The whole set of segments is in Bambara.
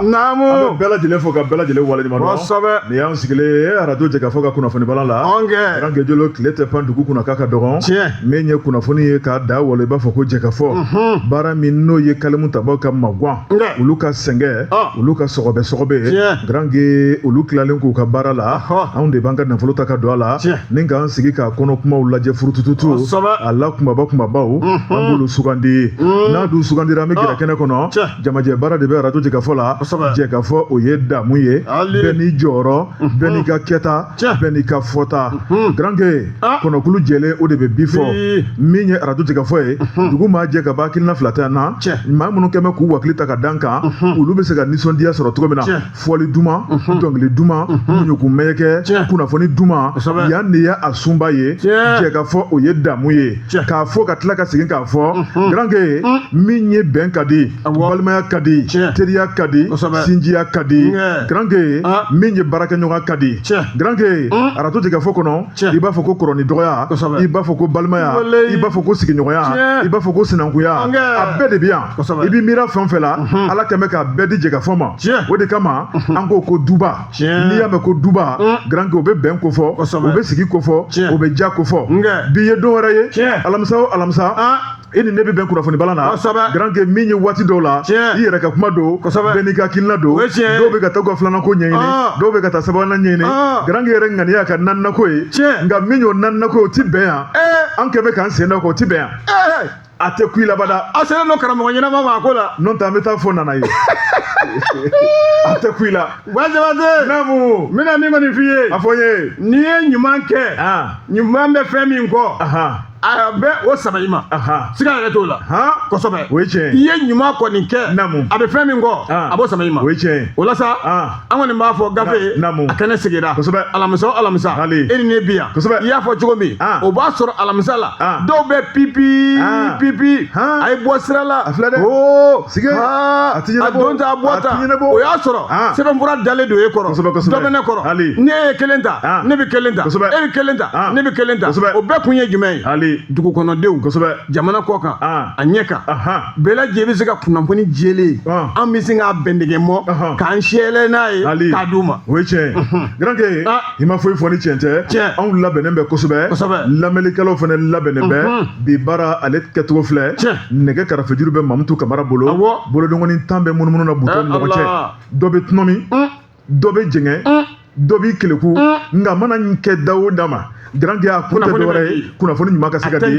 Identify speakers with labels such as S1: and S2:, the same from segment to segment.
S1: Namu an bɛ
S2: bɛɛ lajɛlen fo
S1: ka bɛɛ lajɛlen waleɲuman dɔn nin y'an sigilen arajo jɛkafɔ ka kunnafoni bala la garange
S2: jolo tile tɛ pan
S1: dugu kunna k'a ka dɔgɔn min ye
S2: kunnafoni ye
S1: k'a da walo i b'a fɔ ko jɛkafɔ baara min n'o ye kalimu tabaw ka magwan olu ka sɛgɛn olu ka sɔgɔbɛ sɔgɔbɛ garange olu tilalen k'u ka baara la anw de b'an ka nafolo ta ka don a la Ni k'an sigi k'a kɔnɔ kumaw lajɛ furutututu a la kunbaba kunbabaw an b'olu sugandi n'a dun sugandira an bɛ gɛrɛ kɛnɛ kɔnɔ jamajɛ baara de bɛ arajo jɛkafɔ la jɛkafɔ o ye damu ye bɛɛ n'i jɔyɔrɔ bɛɛ n'i ka kɛta bɛɛ n'i ka fɔta garankɛ kɔnɔkulu jɛlen o de bɛ bi fɔ min ye arajo jɛkafɔ ye dugu maa jɛ ka ban hakilina fila tɛ a na maa minnu kɛmɛ k'u hakili ta ka d'an kan olu bɛ se ka nisɔndiya sɔrɔ cogo min na fɔli duman mhm. dɔnkili duman mhm. ɲugun mɛyɛkɛ kunnafoni duman yan de ye a sunba ye jɛkafɔ o ye damu ye k'a fɔ ka tila ka segin k'a fɔ mhm. garanke min ye bɛn ka di balimaya ka di teriya ka di sinjiya ka di garanke ah. min ye baarakɛɲɔgɔn ka di garanke arajo jɛkafɔ kɔnɔ i b'a fɔ ko kɔrɔ ni dɔgɔya i b'a fɔ ko balimaya i b'a fɔ ko sigiɲɔgɔnya i b'a fɔ ko sinankunya a bɛɛ de bɛ yan i bɛ miira fɛn o fɛn la mhm. ala kɛmɛ k'a bɛɛ di jɛkafɔ ma o de kama mhm. an ko ko duba n'i y'a mɛn ko duba mhm. garankɛ o bɛ bɛn kofɔ o bɛ sigi kofɔ o bɛ ja kofɔ bi ye don wɛrɛ ye alamisa o alamisa ah. e ni ne bɛ bɛn kunnafoni bala na kosɛbɛ garanke min ye waati dɔw la tiɲɛ i yɛrɛ ka kuma don kosɛbɛ bɛɛ n'i ka hakilina don o ye tiɲɛ dɔw bɛ ka taa ka filanan ko ɲɛɲini dɔw bɛ ka taa sabanan ɲɛɲini garanke yɛrɛ ŋaniya ka naaninan ko ye tiɲɛ nka min y'o naaninan ko ye o ti bɛn yan an kɛ bɛ k'an sen da o kan o ti bɛn yan a tɛ kun i la abada a selen don karamɔgɔ
S2: ɲɛnama ma a ko la n'o tɛ an bɛ taa fɔ
S1: nana ye a tɛ kun i la wa Jabate namu
S2: n bɛna
S1: min kɔni f'i ye
S2: a fɔ n ye n'i ye
S1: ɲuman kɛ
S2: ɲuman bɛ fɛn min kɔ a bɛ o saba i ma siga yɛrɛ t'o la kosɛbɛ o ye tiɲɛ i
S1: ye ɲuman
S2: kɔni kɛ a bɛ fɛn min kɔ a b'o saba i ma o ye tiɲɛ o la sa an kɔni b'a fɔ gafe a kɛnɛ sigira kosɛbɛ alamisa o alamisa e ni ne bi yan kosɛbɛ i y'a fɔ cogo min o b'a sɔrɔ alamisa la dɔw bɛ pipi pipi a ye bɔ sira la a filɛ dɛ o
S1: sigi a
S2: ti ɲɛnabɔ a don ta a bɔ ta o y'a sɔrɔ ah. sɛbɛnfura dalen don e kɔrɔ dɔ bɛ ne kɔrɔ ne ye kelen ta ah. ne bɛ kelen ta e bɛ kelen ta ah. ne bɛ kelen ta o bɛɛ kun ye jumɛn ye dugukɔnɔdenw jamana kɔ kan a ɲɛ kan bɛɛ lajɛlen bɛ se ka kunnafoni jɛlen an bɛ se k'a bɛndɛgɛ mɔ k'an sɛlɛ n'a ye k'a d'u ma o ye tiɲɛ
S1: ye i ma foyi fɔ ni tiɲɛ tɛ Tiɲɛ. anw labɛnnen bɛ kosɛbɛ Kosɛbɛ. lamɛnnikɛlaw fana labɛnnen bɛ Unhun. bi baara ale kɛcogo filɛ Tiɲɛ. nɛgɛ karafejuru bɛ mamutu kamara bolo Awɔ. bolodengɔni tan bɛ munumunu na butɔn Eh, ni ɲɔgɔn cɛ Allah. dɔ bɛ tunɔmi Un, dɔ bɛ jɛngɛ un. dɔ b'i keleku nka mana n kɛ da o da ma garange a kun tɛ Kunnafoni bɛ dɔwɛrɛ ye di. kunnafoni ɲuman ka se ka di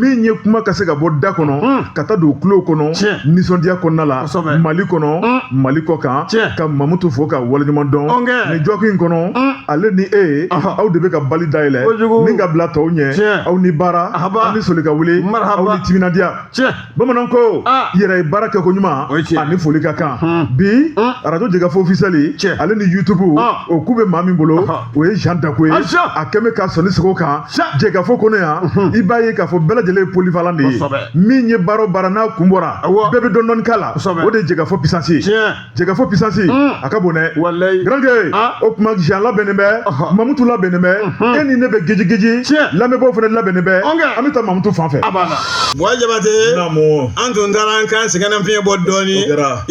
S1: min ye kuma ka se ka bɔ da kɔnɔ hmm. ka taa don tulo kɔnɔ nisɔndiya kɔnɔna la mali kɔnɔ hmm. mali kɔ kan ka mamutu fo ka waleɲuman dɔn ni jɔki in kɔnɔ hmm. ale ni e aw de bɛ ka bali dayɛlɛ ni ka bila tɔw ɲɛ aw ni baara aw ni soli ka wuli aw ni timinadiya bamananw ko ah. yɛrɛ ye baara kɛ ko ɲuman ani foli ka kan hmm. bi hmm. arajo jɛkafɔ officiel ale ni youtube ah. o kun bɛ maa min bolo ah. o ye jean dako ye a kɛ bɛ ka sɔnni sigi o kan jɛkafɔ kɔnɔ yan hmm. i b'a ye k'a fɔ bɛɛ lajɛlen ye polyvalent de ye min ye baara o baara n'a kun bɔra bɛɛ bɛ dɔɔnin dɔɔnin k'a la o de ye jɛkafɔ puissance ye jɛkafɔ puissance a ka bon dɛ walayi garankɛ o tuma jean labɛnnen bɛ mamutu labɛnnen bɛ e ni ne bɛ geji geji lamɛnbaaw fana labɛnnen bɛ an bɛ taa mamutu fan fɛ buwa jabate
S2: an tun taara an ka sɛgɛnnafiɲɛ bɔ dɔɔni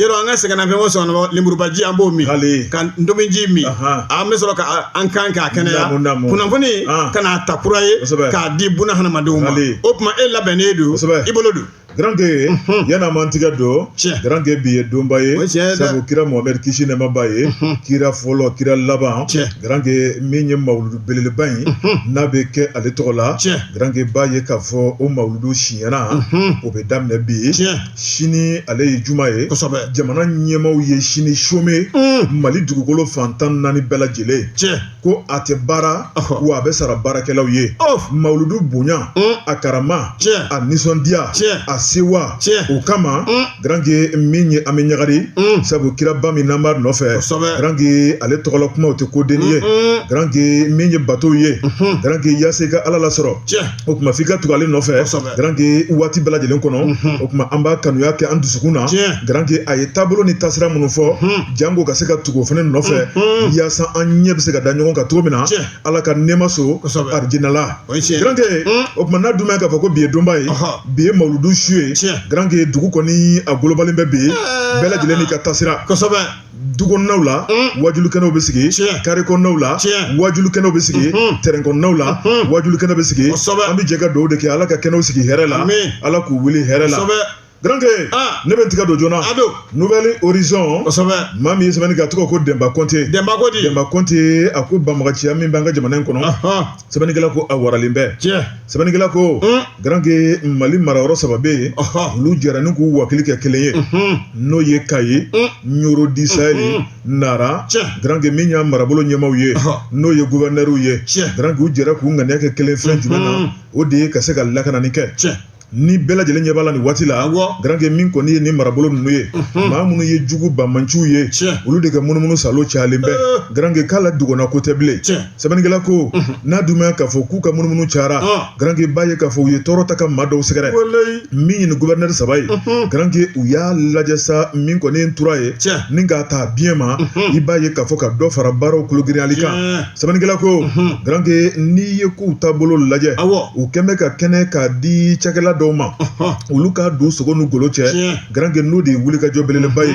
S2: yɔrɔ an ka sɛgɛnnafiɲɛ bɔ sɔgɔma lemurubaji an b'o min ka ntominji min an bɛ sɔrɔ ka an kan k'a kɛnɛya kunnafoni ka n'a ta kura ye k'a di buna hadamadenw ma o tuma e labɛnnen don i bolo don
S1: Garanke yann'an man tigɛ don garanke bi ye donba ye sabu kira muhamɛdi kisi nɛɛma b'a ye kira fɔlɔ kira laban garanke min ye mawuludu belebeleba in n'a bɛ kɛ ale tɔgɔ la garanke b'a ye k'a fɔ o mawuludu siɲɛna o bɛ daminɛ bi sini ale ye juma ye jamana ɲɛmaw ye sini chômé mali dugukolo fan tan ni naani bɛɛ lajɛlen ko a tɛ baara wa a bɛ sara baarakɛlaw ye mawuludu bonya a karama a nisɔndiya a sewa o kama garanke min ye an bɛ ɲagari sabu kiraba min n'an b'a nɔfɛ garanke ale tɔgɔla kumaw tɛ ko dennin ye garanke min ye bato ye garanke yaasa i ka ala lasɔrɔ o tuma f'i ka tugu ale nɔfɛ garanke waati bɛɛ lajɛlen kɔnɔ o tuma an b'a kanuya kɛ an dusukun na garanke a ye taabolo ni tasira minnu fɔ janko ka se ka tugu o fana nɔfɛ yaasa an ɲɛ bɛ se ka da ɲɔgɔn kan cogo min na ala ka nɛɛma so alijinɛ la garanke o tuma n'a dun b'a ye k'a fɔ ko bi ye donba ye bi ye mawuludu su ye garanke dugu kɔni a golobalen bɛ bi bɛɛ lajɛlen n'i ka tasira
S2: dukɔnɔnaw
S1: la wajulikɛnɛw bɛ sigi karekɔnɔnaw la wajulikɛnɛw bɛ sigi terɛnkɔnɔnaw la wajulikɛnɛw bɛ sigi an bɛ jɛ ka dugawu de kɛ ala ka kɛnɛw sigi hɛrɛ la ala k'u wuli hɛrɛ la garankɛ ne bɛ tigɛ don joona nouvel horizon maa min ye sɛbɛnni kɛ a tɔgɔ ko denba kɔnte denba denba kɔnte a ko banbaanciya min bɛ an ka jamana in kɔnɔ sɛbɛnnikɛla ko a waralen bɛ sɛbɛnnikɛla ko garankɛ mali marayɔrɔ saba bɛ yen olu jɛra ni k'u hakili kɛ kelen ye n'o ye kayi nioro du sahel nara garankɛ min y'a marabolo ɲɛmaw ye n'o ye gouverneurw ye garankɛ u jɛra k'u ŋaniya kɛ kelen fɛn jumɛn na o de ye ka se ka lakanani kɛ ni bɛɛ lajɛlen ɲɛ b'a la nin waati la garankɛ min kɔni ye ni marabolo ninnu ye maa minnu ye jugu banbaanciw ye olu de ka munumunu saalo cayalen bɛ garankɛ k'a la dogo na ko tɛ bilen sɛbɛnnikɛla ko n'a dun b'a ye ka fɔ k'u ka munumunu cayara garanke b'a ye ka fɔ u ye tɔɔrɔ ta ka maa dɔw sɛgɛrɛ min ye nin gouverneur saba ye garanke u y'a lajɛ sa min kɔni ye tura ye ni k'a ta biɲɛ ma i b'a ye ka fɔ ka dɔ fara baaraw kologiriyali kan sɛbɛnnikɛla ko garanke n'i ye k'u taabolo lajɛ u kɛlen bɛ ka kɛnɛ k'a di cakɛla dɔw ma olu ka don sogo ni golo cɛ garanke n'o de ye wulikajɔ belebeleba ye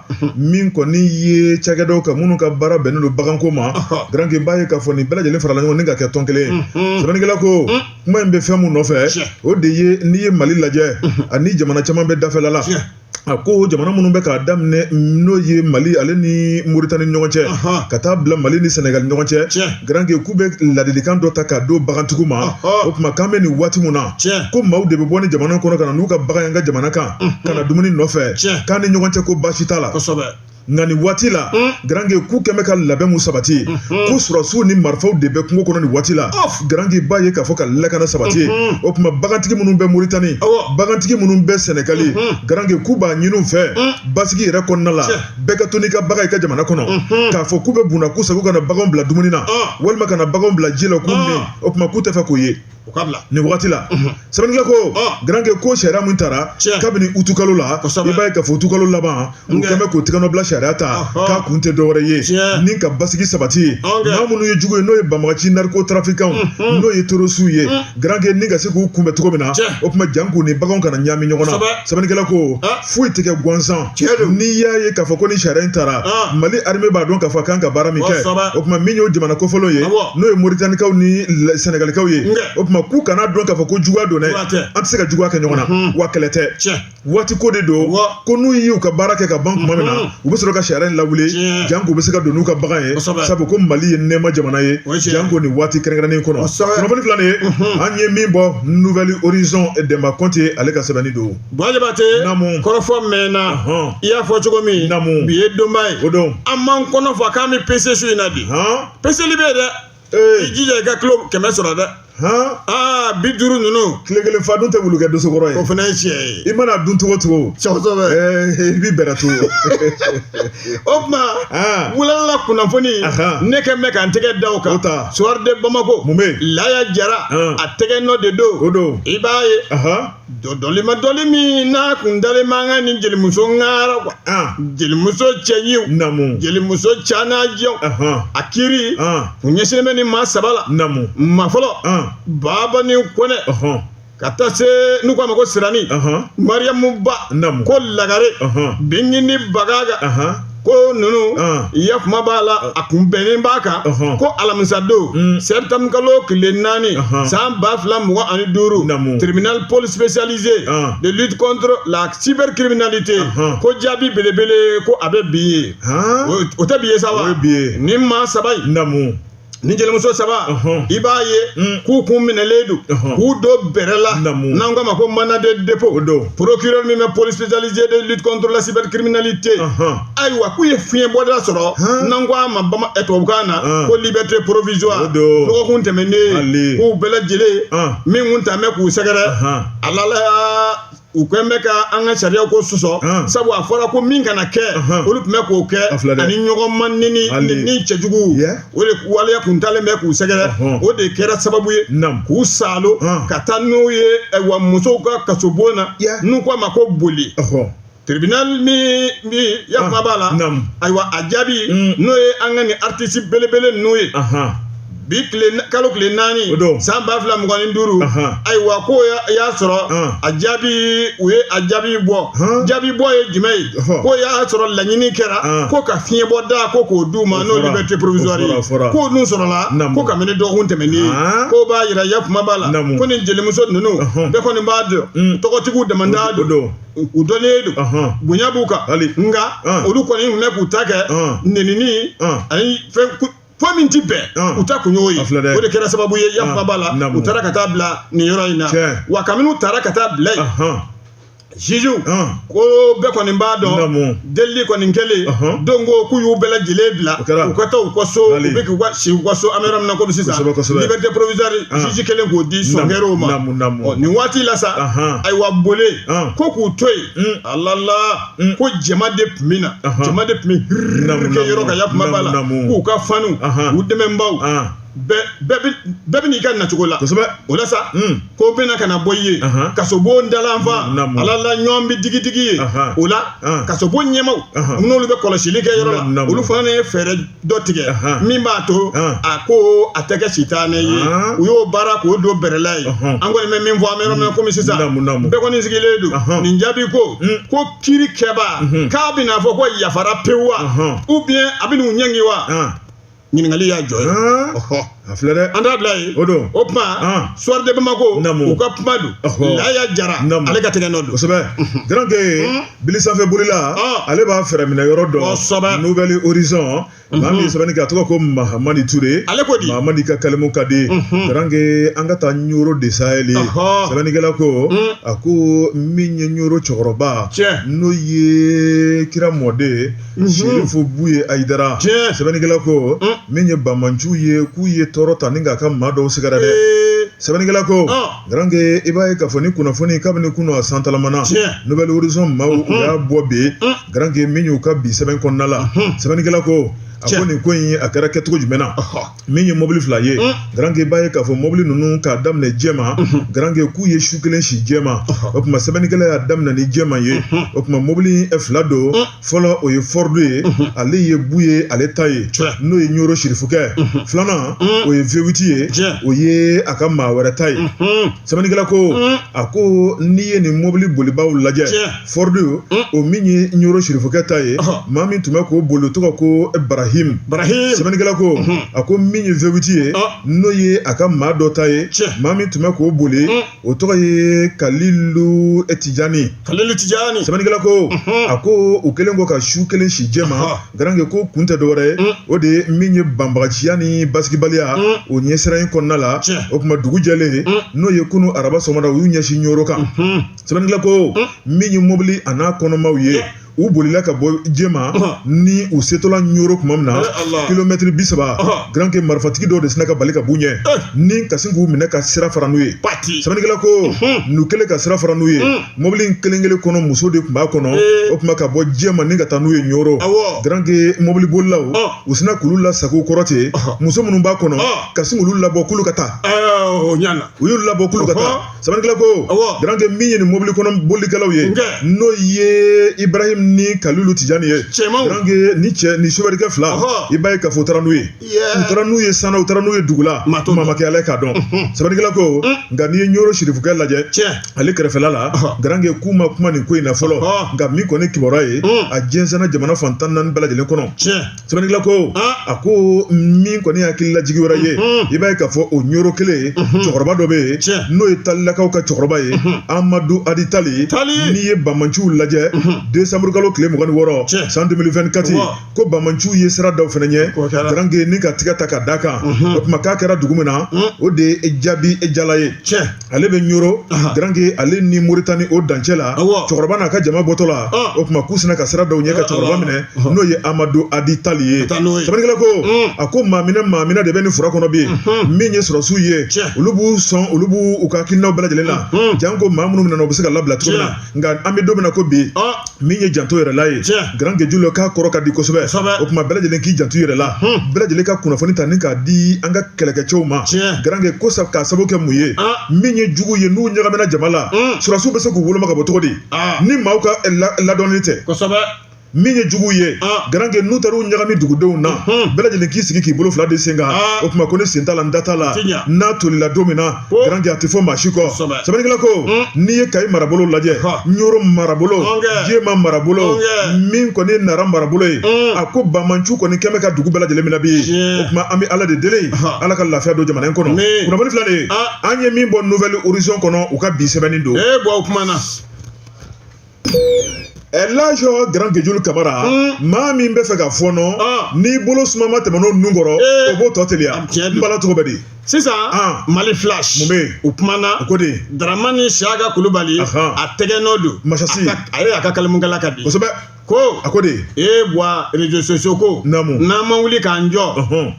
S1: min kɔni ye cakɛdaw kan minnu ka baara bɛnnen don baganko ma garanke b'a ye ka fɔ ni bɛɛ lajɛlen farala ɲɔgɔn ni ka kɛ tɔn kelen ye sɛbɛnnikɛla ko kuma in bɛ fɛn min nɔfɛ o de ye n'i ye mali lajɛ ani jamana caman bɛ dafɛla la a ko jamana minnu bɛ k'a daminɛ n'o ye mali ale ni moritani ɲɔgɔn cɛ ka taa bila mali ni sɛnɛgali ɲɔgɔn cɛ garanke k'u bɛ ladilikan dɔ ta k'a don bagantigiw ma o tuma k'an bɛ nin waati min na ko maaw de bɛ bɔ nin jamana kɔnɔ ka na n'u ka bagan y'an ka jamana kan ka na dumuni nɔfɛ Tiɲɛ. k'an ni ɲɔgɔn cɛ ko baasi t'a la kosɛbɛ nka nin waati la garanke k'u kɛn bɛ ka labɛn min sabati ko sɔrɔdasiw ni marifaw de bɛ kungo kɔnɔ nin waati la Ɔf. garanke b'a ye k'a fɔ ka lakana sabati o tuma bagantigi minnu bɛ moritani Awɔ. bagantigi minnu bɛ sɛnɛgali garanke k'u b'a ɲini u fɛ basigi yɛrɛ kɔnɔna la Tiɲɛ. bɛɛ ka to n'i ka bagan i ka jamana kɔnɔ k'a fɔ k'u bɛ bunna k'u sago ka na baganw bila dumuni na Ɔn. walima ka na baganw bila ji la k'u Ɔn. min o tuma k'u t'a fɛ k'o ye o ka bila nin wagati la sɛbɛnnikɛla ko garanke ko sariya min tara kabini utu kalo la i b'a ye ka fɔ utu kalo laban u kɛn bɛ k'o tɛgɛnɔbila sariya ta k'a kun tɛ dɔwɛrɛ ye ni ka basigi sabati ye maa minnu ye jugu ye n'o ye banbaganci narikotarafikanw n'o ye terorisiw ye garanke ni ka se k'u kunbɛn cogo min na o tuma jank'u ni baganw kana ɲami ɲɔgɔn na sɛbɛnnikɛla ko foyi tɛ kɛ gansan n'i y'a ye k'a fɔ ko ni sariya in tara mali arime b'a dɔn k'a fɔ a kan ka baara min kɛ o tuma min y'o jamana kofɔlenw ye n'o ye moritanikaw ni sɛnɛgalikaw ye o tuma k'u kan'a dɔn k'a fɔ ko juguya don dɛ an tɛ se ka juguya kɛ ɲɔgɔn na wa kɛlɛ tɛ waati ko de don ko n'u y'u ka baara kɛ ka ban tuma min na u bɛ sɔrɔ ka sariya in lawuli jank'u bɛ se ka don n'u ka bagan ye sabu ko mali ye nɛɛma jamana ye janko nin waati kɛrɛnkɛrɛnnen kɔnɔ kunnafoni fila ye an ye min bɔ nouvel horizon dɛnba kɔnte ale ka sɛbɛnni don jabate
S2: namu kɔrɔfɔ mɛnna i y'a fɔ cogo min namu bi ye donba ye o don an m'an
S1: kɔnɔ fa
S2: k'an bɛ pese su in na bi peseli bɛ yen dɛ i jija i ka kilo kɛmɛ sɔrɔ dɛ aa biduuru ninnu tile kelen fa dun tɛ
S1: wulu kɛ dosokɔrɔ ye o fana ye tiɲɛ ye i
S2: mana dun cogo
S1: cogo kosɛbɛ i b'i bɛrɛ to
S2: o tuma wulalala kunnafoni ne kɛn bɛ ka n tɛgɛ da o kan suwari de bamakɔ mun bɛ laya jara a tɛgɛ nɔ de don o don i b'a ye dɔdɔli ma dɔli min n'a kun dalen man kan ni jelimuso ŋara kuwa jelimuso cɛɲiw namu jelimuso canajɛw a kiri kun ɲɛsinnen bɛ ni maa saba la namu maa fɔlɔ babani kɔnɛ ka taa se n'u k'a ma ko sirani mariyamu ba namu ko lagare bingini bagaga ko ninnu ya kuma b'a la a kun bɛnnen b'a kan ko alamisadon septembre kalo tile naani san ba fila mugan ani duuru tribunal pôle spécialisé de lutte contre la cybercriminalité ko jaabi belebele ko a bɛ bi ye o tɛ bi ye sa wa ni maa saba in ni jelimuso saba i b'a ye mm. k'u kun minɛlen don k'u don bɛrɛ la n'an k'a ma ko mandat de dépôt procureur min bɛ pôle spécialisé de lutte contre la cybercriminalité ayiwa k'u ye fiɲɛ bɔda sɔrɔ n'an k'a ma bama eh, tubabukan na ko liberté provisoire dɔgɔkun tɛmɛnen k'u bɛɛ lajɛlen min kun tɛmɛ k'u sɛgɛrɛ alala u kɛlen bɛ ka an ka sariya ko sɔsɔ sabu a fɔra ko min kana kɛ olu tun bɛ k'o kɛ ani ɲɔgɔn ma nenini cɛjugu o de waleya kun talen bɛ k'u sɛgɛrɛ o de kɛra sababu ye k'u salo ka taa n'u ye wa musow ka kasobon na n'u k'a ma ko Bole tribunal min yakuma b'a la ayiwa a jaabi n'o ye an ka ni artisi belebele n'o ye. bi kalo tile naani san ba fila mugan ni duuru ayiwa ko y'a sɔrɔ a jaabi u ye a jaabi bɔ jaabi bɔ ye jumɛn ye ko y'a sɔrɔ laɲini kɛra ko ka fiɲɛ bɔ da ko k'o d'u ma n'o liberté provisoire ye k'o dun sɔrɔla ko kabini dɔgɔkun tɛmɛnen ko b'a yira ya kuma b'a la ko ni jelimuso ninnu bɛɛ kɔni b'a dɔn tɔgɔtigiw dama de don u dɔnnen don bonya b'u kan nka olu kɔni tun bɛ k'u ta kɛ nenini ani fɛn fɔ min tɛ bɛn u ta kun y'o ye o de kɛra sababu ye yakuma b'a la u taara ka taa bila nin yɔrɔ in na wa kabini u taara ka taa bila yen juge ko bɛɛ kɔni b'a dɔn delili kɔni kɛlen don ko k'u y'u bɛɛ lajɛlen bila u ka taa u ka so u bɛ k'u ka si u ka so an bɛ yɔrɔ min na komi sisan liberté provisoire juge kɛlen k'o di sɔnkɛrɛw ma nin waati la sa ayiwa Bole ko k'u to yen alala Mm. ko jama de tun bɛ na jama de tun bɛ kiiri kɛ yɔrɔ kan ya kuma b'a la k'u ka fanw u dɛmɛnbaw bɛɛ bɛ n'i ka nacogo la kosɛbɛ o la sa mm. k'o bɛna ka na bɔ i ye kasobon dalanfa alala ɲɔgɔn bɛ digidigi ye o la kasobon ɲɛmaaw minnu bɛ kɔlɔsili kɛ yɔrɔ la olu fana ye fɛɛrɛ dɔ tigɛ min b'a to a ko a tɛ kɛ sitanɛ ye u y'o baara k'o don bɛrɛla ye an kɔni bɛ min fɔ an bɛ kɔmi sisan bɛɛ kɔni sigilen don nin jaabi ko ko kiri kɛba k'a bɛna fɔ ko yafara pewu wa ou bien a bɛ n'u ɲangi wa ɲininkali y'a jɔ ye a filɛ dɛ an
S1: t'a bila yen o
S2: don o tuma Soir de Bamako u ka kuma don Laya Jara ale ka tigɛ nɔ don kosɛbɛ garanke
S1: bili sanfɛ bolila ale b'a fɛɛrɛ minɛ yɔrɔ dɔn kosɛbɛ Nouvel Horizon maa min ye sɛbɛnni kɛ a tɔgɔ ko Mahamani Ture ale ko di Mahamani
S2: ka kalimu ka
S1: di garanke an ka taa Nioro de Sahel sɛbɛnnikɛla ko a ko min ye Nioro cɛkɔrɔba n'o ye kira mɔden serifu buye ayidara sɛbɛnnikɛla ko min ye banbaanciw ye k'u ye tɔɔrɔ ta ni k'a ka maa dɔw sɛgɛrɛ dɛ sɛbɛnnikɛla ko garankɛ i b'a ye k'a fɔ nin kunnafoni kabini kunun a santalamana nouvel horizon maaw u y'a bɔ bi garankɛ min y'u ka bi sɛbɛn kɔnɔna la sɛbɛnnikɛla ko a ko nin ko in a kɛra kɛcogo jumɛn na min ye mobili fila ye garanke i b'a ye k'a fɔ mobili ninnu k'a daminɛ jɛma garankɛ k'u ye su kelen si jɛma o tuma sɛbɛnnikɛla y'a daminɛ ni jɛma ye o tuma mobili fila don fɔlɔ o ye ford ye ale ye buye ale ta ye n'o ye ɲoro sirifukɛ filanan o ye V8 ye o ye a ka maa wɛrɛ ta ye sɛbɛnnikɛla ko a ko n'i ye nin mobili bolibaw lajɛ ford o min ye ɲoro sirifukɛ ta ye maa min tun bɛ k'o boli o tɔgɔ ko barahim sɛbɛnnikɛla ko a ko min ye V8 ye n'o ye a ka maa dɔ ta ye maa min tun bɛ k'o boli o tɔgɔ ye kalilu tijani sɛbɛnnikɛla ko a ko u kɛlen kɔ ka su kelen si jɛma garankɛ ko kun tɛ dɔwɛrɛ ye o de ye min ye banbaganciya ni basigibaliya o ɲɛsiran in kɔnɔna la o tuma dugu jɛlen n'o ye kunun araba sɔgɔmada u y'u ɲɛsin ɲoro kan sɛbɛnnikɛla ko min ye mobili a n'a kɔnɔmaw ye u bolila ka bɔ jɛma ni u setɔla ɲoro tuma min na kilomɛtiri bi saba garanke marifatigi dɔw de sina ka bali ka b'u ɲɛ ni ka sin k'u minɛ ka sira fara n'u ye sɛbɛnnikɛla ko n'u kɛlen ka sira fara n'u ye mobili in kelen kelen kɔnɔ muso de tun b'a kɔnɔ o tuma ka bɔ jɛma ni ka taa n'u ye ɲoro garanke mobili bolilaw u sina k'olu lasago kɔrɔ ten muso minnu b'a kɔnɔ ka sin k'olu labɔ k'olu ka taa u y'u labɔ k'olu ka taa sɛbɛnnikɛla ko garankɛ min ye nin mobili kɔnɔ bolikɛlaw ye n'o ye ibrahim ni kalilu tijani ye cɛ nin sofɛrɛkɛ fila i b'a ye k'a fɔ u taara n'u ye u taara n'u ye san na u taara n'u ye dugu la maa ma kɛ ala k'a dɔn sɛbɛnnikɛla ko nka n'i ye ɲoro sirifukɛ lajɛ ale kɛrɛfɛla la garankɛ k'u ma kuma nin ko in na fɔlɔ nka min kɔni kibaruya ye a jɛnsɛnna jamana fan tan naani bɛɛ lajɛlen kɔnɔ cɛ sɛbɛnnikɛla ko a ko min kɔni ye hakililajigi wɛrɛ ye i b'a ye k'a fɔ o ɲoro kelen cɛkɔrɔba dɔ bɛ yen n'o ye talilakaw ka cɛkɔrɔba ye amadu adi tali n'i ye banbaanciw lajɛ desanburukalo tile mugan ni wɔɔrɔ san deux mille vingt-quatre ko banbaanciw ye sira da u fana ɲɛ garanke ni ka tigɛ ta ka d'a kan o tuma k'a kɛra dugu min na o de ye jabijala ye ale bɛ ɲoro garanke ale ni moritani o dancɛ la cɛkɔrɔba n'a ka jama bɔtɔ la o tuma k'u sina ka sira da u ɲɛ ka cɛkɔrɔba minɛ n'o ye amadu adi tali ye sɛbɛnnikɛla ko a ko maaminɛ maaminɛ de bɛ nin fura kɔnɔ bi min ye sɔrɔsiw ye olu b'u sɔn olu b'u ka hakilinaw bɛɛ lajɛlen la janko maa minnu minɛna u bɛ se ka labila cogo min na nka an bɛ don min na ko bi min ye janto yɛrɛ la ye garanke jula k'a kɔrɔ ka di kosɛbɛ o tuma bɛɛ lajɛlen k'i janto yɛrɛ la bɛɛ lajɛlen ka kunnafoni ta ni k'a di an ka kɛlɛkɛcɛw ma garanke ko k'a sababu kɛ mun ye min ye jugu ye n'u ɲagamina jama la sɔrɔsiw bɛ se k'u woloma ka bɔ cogo di ni maaw ka ladɔnni tɛ min ye jugu ye garankɛ n'u taara u ɲagami dugudenw na bɛɛ lajɛlen k'i sigi k'i bolo fila d'i sen kan o tuma ko ne sen t'a la n da t'a la n'a tolila don min na garankɛ a tɛ fɔ maa si kɔ sɛbɛnnikɛla ko n'i ye kayi marabolo lajɛ ɲoro marabolo jema marabolo min kɔni nara marabolo ye a ko banbaanciw kɔni kɛlen bɛ ka dugu bɛɛ lajɛlen minɛ bi o tuma an bɛ ala de deli ala ka lafiya don jamana in kɔnɔ kunnafoni filɛ dɛ an ye min bɔ nouvelle horizon kɔnɔ u ka bi sɛbɛnni don o tuma na lazo garankɛ julu kamara maa min b'a fɛ ka fɔɔnɔ n'i bolo sumama tɛmɛn'o nun kɔrɔ o b'o tɔ teliya n bala tɔgɔ bɛ di sisan
S2: mali flash mun bɛ yen u kumana
S1: o ko de daramani
S2: siyaka kulubali a tɛgɛ nɔ don masasi a ye a
S1: ka
S2: kalimukala ka di kosɛbɛ ko
S1: a ko
S2: de
S1: e bwa
S2: réseaux sociaux ko naamu n'an ma wuli k'an jɔ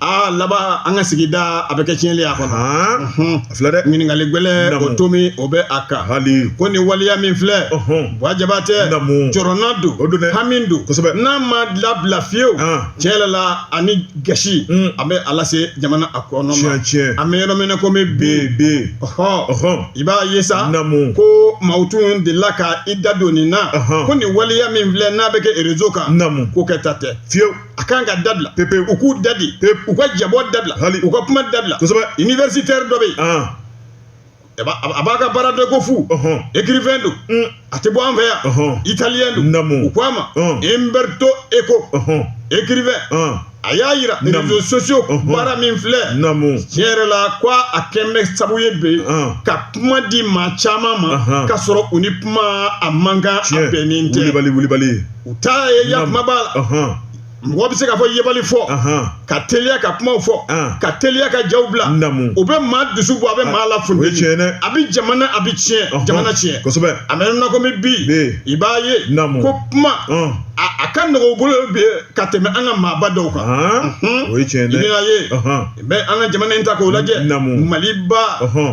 S2: aa laban an ka sigida a bɛ kɛ tiɲɛli a kɔnɔ A filɛ
S1: dɛ ɲininkali gwɛlɛ o
S2: tomi o bɛ a kan hali ko ni
S1: waleya min
S2: filɛ bwa jabatɛ jɔrɔnan don o don hami don kosɛbɛ n'a ma labila fiyewu tiɲɛ yɛrɛ la ani gasi a bɛ a lase jamana a kɔnɔ an bɛ yɔrɔ min na komi bi ɔɔ i b'a ye sa ko maaw tun delila ka i da don nin na ko nin waleya min filɛ n'a bɛ kɛ réseau kan k'o kɛta tɛ fiyewu a kan ka dabila pepe u k'u dabi pepe u ka jabɔ dabila hali u ka kuma dabila kosɛbɛ universitaire dɔ bɛ yen a b'a ka baara dɔ kofɔ écrivain don a tɛ bɔ an fɛ yan italien don u ko a ma Umberto Eco écrivain a y'a yira réseaux sociaux baara min filɛ tiɲɛ yɛrɛ la ko a kɛlen bɛ sabu ye bi ka kuma di maa caman ma ka sɔrɔ u ni kuma a man kan a bɛnnen tɛ wulibali wulibali u taa ye ya kuma b'a la mɔgɔ bɛ se k'a fɔ yebali fɔ ka teliya ka kuma fɔ ka teliya ka jaw bila o bɛ maa dusu bɔ a bɛ maa lafu a bɛ jamana a bɛ tiɲɛ jamana tiɲɛ kosɛbɛ a bɛ na komi bi i b'a ye ko kuma a ka nɔgɔ u bolo bi ka tɛmɛ an ka maaba dɔw kan o ye tiɲɛ ye bɛ an ka jamana in ta k'o lajɛ maliba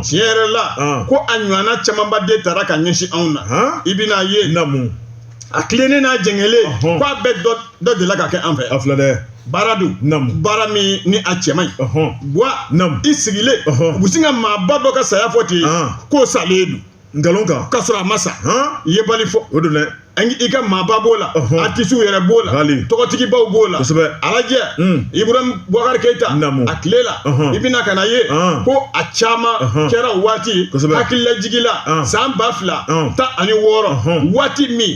S2: tiɲɛ yɛrɛ la ko a ɲɔgɔnna camanba de taara ka ɲɛsin anw na i bɛna a ye a tilennen n'a jɛngɛlen Ɔhɔn. k'a bɛɛ dɔ dɔ delila ka kɛ an fɛ a filɛ dɛ baara don Naamu. baara min ni a cɛ man ɲi ɔhɔn bwa Naamu. i sigilen Ɔhɔn. u bɛ sin ka maaba dɔ ka saya fɔ ten Ɔn. k'o salen don nkalon kan k'a sɔrɔ a ma sa han yebali fɔ o don dɛ An- i ka maaba b'o la Ɔhɔn. atisiw yɛrɛ b'o la Hali. tɔgɔtigibaw b'o la Kosɛbɛ. alaji Mm. ibrahim bubakari keyita Naamu. a tile la Ɔhɔn. i bɛna ka n'a ye Ɔn. ko a caman Ɔhɔn. kɛra o waati Kosɛbɛ. hakililajigila Ɔn. san ba fila tan ani wɔɔrɔ waati min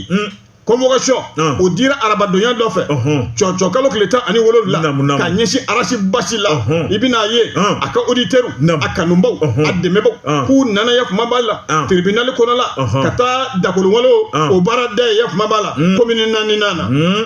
S2: convocation o dira arabadonya dɔ fɛ cɔcɔ kalo tile tan ani wolowula ka ɲɛsin arasi basi la i bɛn'a ye a ka oditɛriw a kanubaw a dɛmɛbaw k'u nana yafama b'a la tiribinali kɔnɔ la ka taa dakolowale o baara da yafama b'a la commune naani na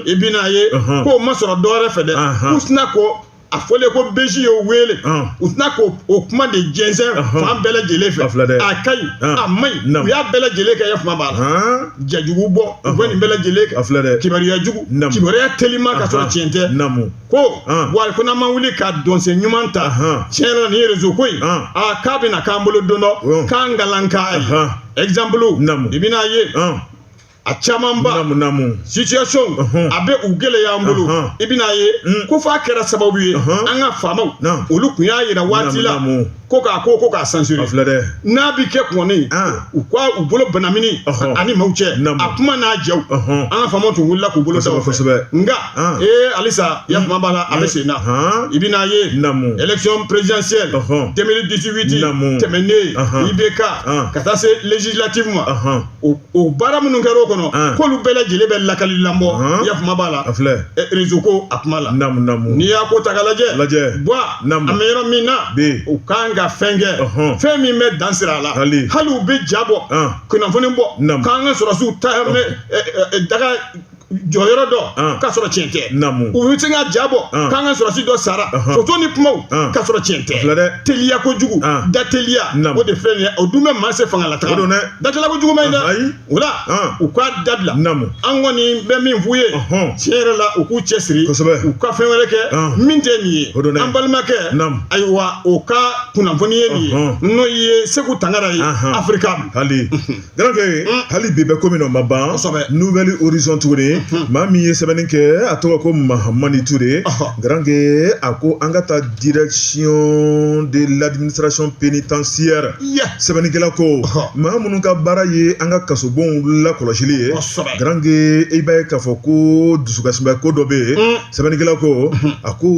S2: i bɛn'a ye k'o ma sɔrɔ dɔwɛrɛ fɛ dɛ k'u sina ko a fɔlen ko beji ye o wele Ɔn. u tɛna k'o o kuma de jɛnsɛn Ɔhɔn. fan bɛɛ lajɛlen fɛ A filɛ dɛ. a ka ɲi Ɔn. a man ɲi Naamu. u y'a bɛɛ lajɛlen kɛ yafama b'a la jajugu bɔ u bɛ nin bɛɛ lajɛlen kɛ A filɛ dɛ. kibaruya jugu Naamu. kibaruya telima ka sɔrɔ tiɲɛ tɛ namu ko Ɔn. wa ko n'an ma wuli ka dɔnsen ɲuman ta Ɔhɔn. tiɲɛ yɛrɛ la nin ye rezo ko in Ɔn. a k'a bɛna k'an bolo don dɔ Ɔn. k'an kalan k'a ye Ɔhɔn. exemple Naamu. i bɛna ye Ɔn. a camanba situation a bɛ u gɛlɛya an bolo i bɛna ye mm. ko f'a kɛra sababu ye an ka faamaw olu tun y'a yira waati la ko k'a ko ko k'a censurer n'a bɛ kɛ kɔni u ka u bolo banamini ani maaw cɛ a kuma n'a jaw an ka faamaw tun wulila k'u bolo sago kosɛbɛ nka ee halisa yafama b'a la a bɛ sen na i bɛna ye élection présidentielle 2018 tɛmɛnen IBK ka taa se législative ma o baara minnu kɛra o kɔnɔ k'olu bɛɛ lajɛlen bɛ lakali lamɔ yafama b'a la rezo ko a kuma la n'i y'a ko ta ka lajɛ lajɛ an bɛ yɔrɔ min na u kan ka fɛn kɛ fɛn min bɛ dan sigi a la hali u bɛ ja bɔ kunnafoni bɔ k'an ka sɔrɔsiw ta daga jɔyɔrɔ dɔ ah. k'a sɔrɔ tiɲɛ tɛ u bɛ se ka ja bɔ ah. k'an ka sɔrɔsi dɔ sara foto ni kumaw ah. k'a sɔrɔ tiɲɛ tɛ teliya kojugu da teliya o de filɛ nin ye o dun bɛ maa se fanga la taga da teliya kojugu ma ɲi dɛ o la u k'a dabila an kɔni bɛ min f'u ye tiɲɛ yɛrɛ la u k'u cɛ siri u ka fɛn wɛrɛ kɛ min tɛ nin ye an balimakɛ ayiwa o ka kunnafoni ye nin ye n'o ye Seku Tangara ye Africable
S1: garankɛ hali bi bɛ ko min na o ma ban Nouvel Horizon tuguni maa min ye sɛbɛnni kɛ a tɔgɔ ko Mahamani Ture garankɛ a ko an ka taa direction de l'administration pénitentiaire sɛbɛnnikɛla ko maa minnu ka baara ye an ka kasobonw lakɔlɔsili ye garankɛ i b'a ye k'a fɔ ko dusukasiba ko dɔ bɛ yen sɛbɛnnikɛla ko a ko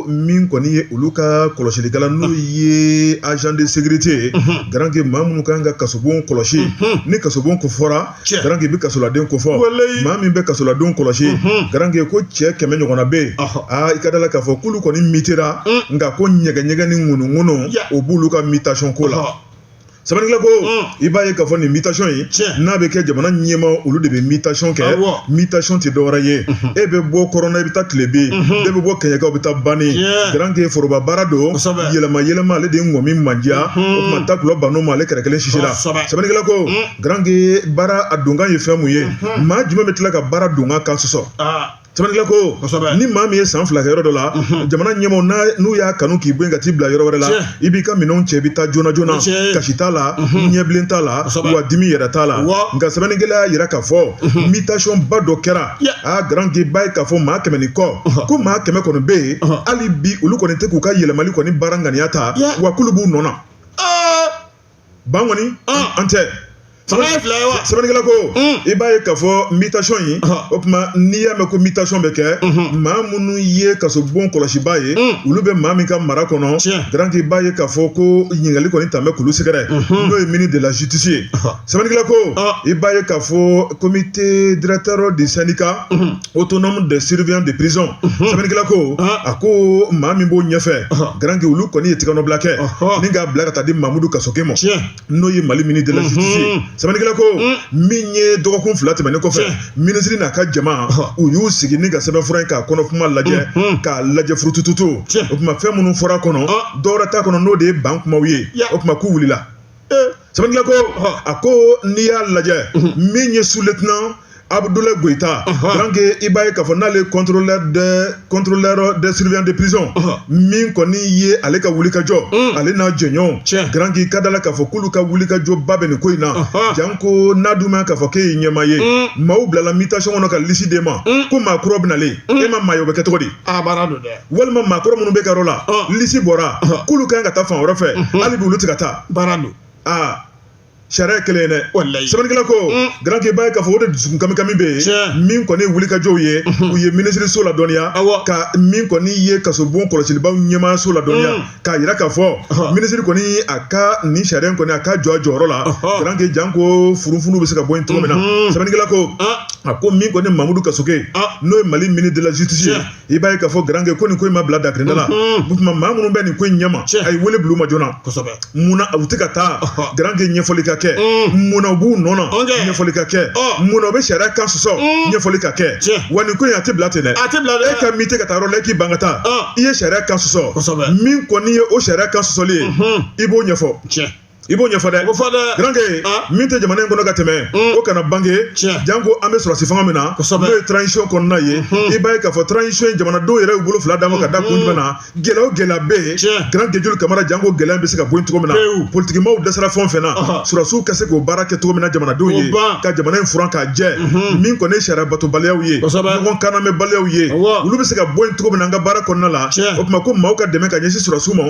S1: min kɔni ye olu ka kɔlɔsilikɛla n'o ye agent de sécurité ye garankɛ maa minnu kan ka kasobon kɔlɔsi ni kasobon ko fɔra Cɛ. garankɛ i bɛ kasoladen ko fɔ Walayi. maa min bɛ kasoladenw kɔlɔsi garankɛ ko cɛ kɛmɛ ɲɔgɔnna bɛ yen Ɔhɔ. aa i ka da la k'a fɔ k'olu kɔni mitera nka ko ɲɛgɛɲɛgɛ ni ŋunuŋunu Ya. o b'olu ka mutation ko la Ɔhɔ. sɛbɛnnikɛla ko i b'a ye k'a fɔ nin mutation in n'a bɛ kɛ jamana ɲɛmaa olu de bɛ mutation kɛ mutation tɛ dɔwɛrɛ ye e bɛ bɔ kɔrɔn na i bɛ taa tilebe e bɛ bɔ kɛɲɛka i bɛ taa banin garanke foroba baara don yɛlɛma yɛlɛma ale de ŋɔmi mandiya o tuma takula banna o ma ale kɛrɛ kelen sisila sɛbɛnnikɛla ko garanke baara a donkan ye fɛn mun ye maa jumɛn bɛ tila ka baara donkan kan sɔsɔ Sɛbɛnnikɛla ko ni maa min ye san fila kɛ yɔrɔ dɔ la jamana ɲɛmaaw n'u y'a kanu k'i bɔ yen ka t'i bila yɔrɔ wɛrɛ la i b'i ka minɛnw cɛ i bɛ taa joona joona kasi t'a la ɲɛbilen t'a la wa dimi yɛrɛ t'a la nka sɛbɛnnikɛla y'a jira k'a fɔ mutationba dɔ kɛra aa garanke b'a ye k'a fɔ maa kɛmɛ ni kɔ ko maa kɛmɛ kɔni bɛ yen hali bi olu kɔni tɛ k'u ka yɛlɛmali kɔni baara ŋaniya ta wa k'olu b'u nɔ ban kɔni an tɛ sɛbɛnnikɛla ko i b'a ye k'a fɔ mutation in o tuma n'i y'a mɛn ko mutation bɛ kɛ maa minnu ye kasobon kɔlɔsibaa ye olu bɛ maa min ka mara kɔnɔ garanke i b'a ye k'a fɔ ko ɲininkali kɔni tun bɛ k'olu sɛgɛrɛ n'o ye ministre de la justice ye sɛbɛnnikɛla ko i b'a ye k'a fɔ comité directeur du syndicat autonome des surveillants de prison sɛbɛnnikɛla ko a ko maa min b'o ɲɛfɛ garankɛ olu kɔni ye tigɛnɔbila kɛ ni k'a bila ka taa di Mamudu Kasoge ma n'o ye Mali ministre de la justice ye sɛbɛnnikɛla ko min ye dɔgɔkun fila tɛmɛnen kɔfɛ minisiri n'a ka jama u y'u sigi ni ka sɛbɛnfura in k'a kɔnɔkuma lajɛ k'a lajɛ furutututu o tuma fɛn minnu fɔra kɔnɔ dɔwɛrɛ t'a kɔnɔ n'o de ye ban kumaw ye o tuma k'u wulila sɛbɛnnikɛla ko a ko n'i y'a lajɛ min ye sous-lieutenant Abudulayi Goyita garanke i b'a ye k'a fɔ n'ale contrôleur de contrôleur des surveillants de prison min kɔni ye ale ka wulikajɔ ale n'a jɛɲɔgɔnw garanke ka da la k'a fɔ k'olu ka wulikajɔba bɛ nin ko in na janko n'a dun ma k'a fɔ k'e ye ɲɛmaa ye maaw bilala mutation kɔnɔ ka lisi d'e ma ko maa kura bɛ nalen e ma maa ye o bɛ kɛ cogo di a baara don dɛ walima maa kɔrɔ minnu b'e ka yɔrɔ la lisi bɔra k'olu ka kan ka taa fan wɛrɛ fɛ hali bi olu tɛ ka taa baara don aa sariya ye kelen ye dɛ walayi sɛbɛnnikɛla ko garanke i b'a ye k'a fɔ o de dusukun kami kami bɛ yen min kɔni ye wulikajɔw ye u ye minisiriso ladɔnniya ka min kɔni ye kasobon kɔlɔsilibaw ɲɛmaayaso ladɔnniya k'a jira k'a fɔ minisiri kɔni a ka nin sariya in kɔni a ka jɔ a jɔyɔrɔ la garanke janko furufunu bɛ se ka bɔ yen cogo min na sɛbɛnnikɛla ko a ko min kɔni Mamudu Kasoge n'o ye Mali ministre de la justice ye i b'a ye k'a fɔ garankɛ ko nin ko in ma bila dakirida la o tuma maa minnu bɛ nin ko in ɲɛma a ye wele bila u ma joona kosɛbɛ munna u tɛ ka taa garankɛ ɲɛfɔli ka kɛ munna u b'u nɔ na ɲɛfɔli ka kɛ munna u bɛ sariya kan sɔsɔ ɲɛfɔli ka kɛ wa nin ko in a tɛ bila ten dɛ a tɛ bila dɛ e ka min tɛ ka taa yɔrɔ la e k'i ban ka taa i ye sariya kan sɔsɔ min kɔni ye o sariya kan sɔsɔli ye i b'o ɲɛfɔ i b'o ɲɛfɔ dɛ o fɔ dɛ garanke min tɛ jamana in kɔnɔ ka tɛmɛ o kana bange janko an bɛ sɔrɔsi fanga min na n'o ye transition kɔnɔna ye i b'a ye k'a fɔ transition in jamanadenw yɛrɛ y'u bolo fila d'a ma ka da kun jumɛn na gɛlɛya o gɛlɛya bɛ yen garanke joli kamara janko gɛlɛya bɛ se ka bɔ yen cogo min na politikimaw dɛsɛra fɛn o fɛn na sɔrɔsiw ka se k'o baara kɛ cogo min na jamanadenw ye ka jamana in furan k'a jɛ min kɔni ye sariya batobaliyaw ye ɲɔgɔn kannamɛbaliyaw ye olu bɛ se ka bɔ yen cogo min na an ka baara kɔnɔna la o tuma ko maaw ka dɛmɛ ka ɲɛsin sɔrɔsiw ma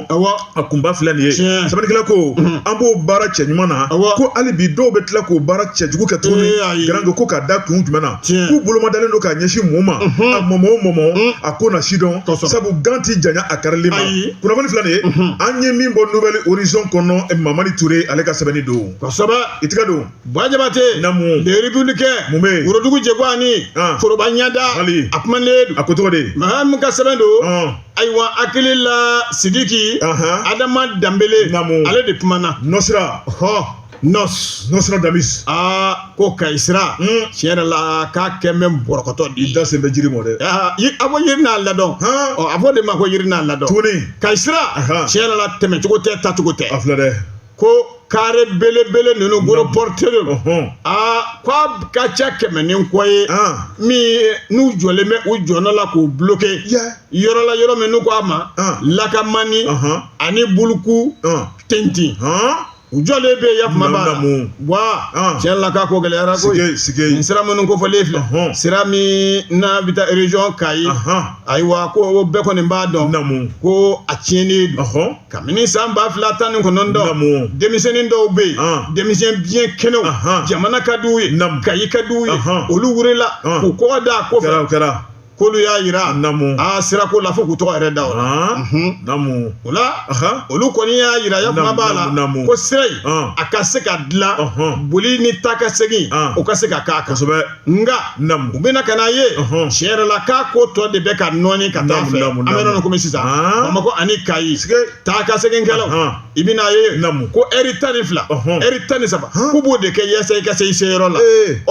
S1: a kunba filɛ nin ye sɛbɛnnikɛla ko an b'o baara cɛɲuman na ko hali bi dɔw bɛ tila k'o baara cɛjugu kɛ tuguni garanke ko ka da kun jumɛn na k'u bolomadalen don k'a ɲɛsin mun ma a mɔmɔ o mɔmɔ a ko na sidɔn sabu gan tɛ janya a karili ma kunnafoni filɛ nin ye an ye min bɔ nouvel horizon kɔnɔ mamari ture ale ka sɛbɛnni don i tɛgɛ don ba
S2: jabate le républicain
S1: mun
S2: bɛ worodugu jɛ foroba ɲɛda a kuma a ko tɔgɔ de ye
S1: min ka sɛbɛn don
S2: ayiwa hakili la sidiki adama danbele
S1: ale
S2: de kumana nostra hɔ nos
S1: nostradamus aa ko kayi
S2: sira hmm. tiɲɛ yɛrɛ la k'a kɛ même bɔrɔkɔtɔ di i da sen bɛ jiri mɔ
S1: dɛ a ko
S2: yiri n'a ladɔn ɔ a fɔ de ma ko yiri n'a ladɔn tuguni kayi sira
S1: tiɲɛ
S2: yɛrɛ la tɛmɛcogo tɛ tacogo tɛ a filɛ dɛ ko kare belebele ninnu gros porteurs aa k'a ka ca kɛmɛ ni kɔ ye min n'u jɔlen bɛ u jɔnɔ la k'u bloquer yɔrɔ la yɔrɔ min n'u ko a ma lakamani ani bukutintin u jɔlen bɛ ya kuma b'a la tiɲɛ la k'a ko gɛlɛyara ko sira minnu kofɔlen filɛ sira min n'a bɛ taa région kayi ayiwa ko bɛɛ kɔni b'a dɔn ko a tiɲɛnen kabini san ba fila tan ni kɔnɔntɔn denmisɛnnin dɔw bɛ yen ah. denmisɛn biɲɛ kɛnɛw jamana ka di u ye kayi ka di u ye olu wurila ah. k'u kɔgɔ da a kɔfɛ k'olu y'a yira a sirako la fo k'u tɔgɔ yɛrɛ da o la mhm. o la olu kɔni y'a yira ya kuma b'a la ko sira in a ka se ka dilan boli ni taa ka segin o ka se ka k'a kan nka u bɛna ka n'a ye tiɲɛ yɛrɛ la k'a ko tɔ de bɛ ka nɔɔni ka taa fɛ an bɛ nɔnɔ kɔmi sisan bamakɔ ani kayi taa ka seginkɛlaw i bɛna a ye namu ko ɛri tan ni fila ɛri tan ni saba k'u b'o de kɛ yaasa i ka se i seyɔrɔ la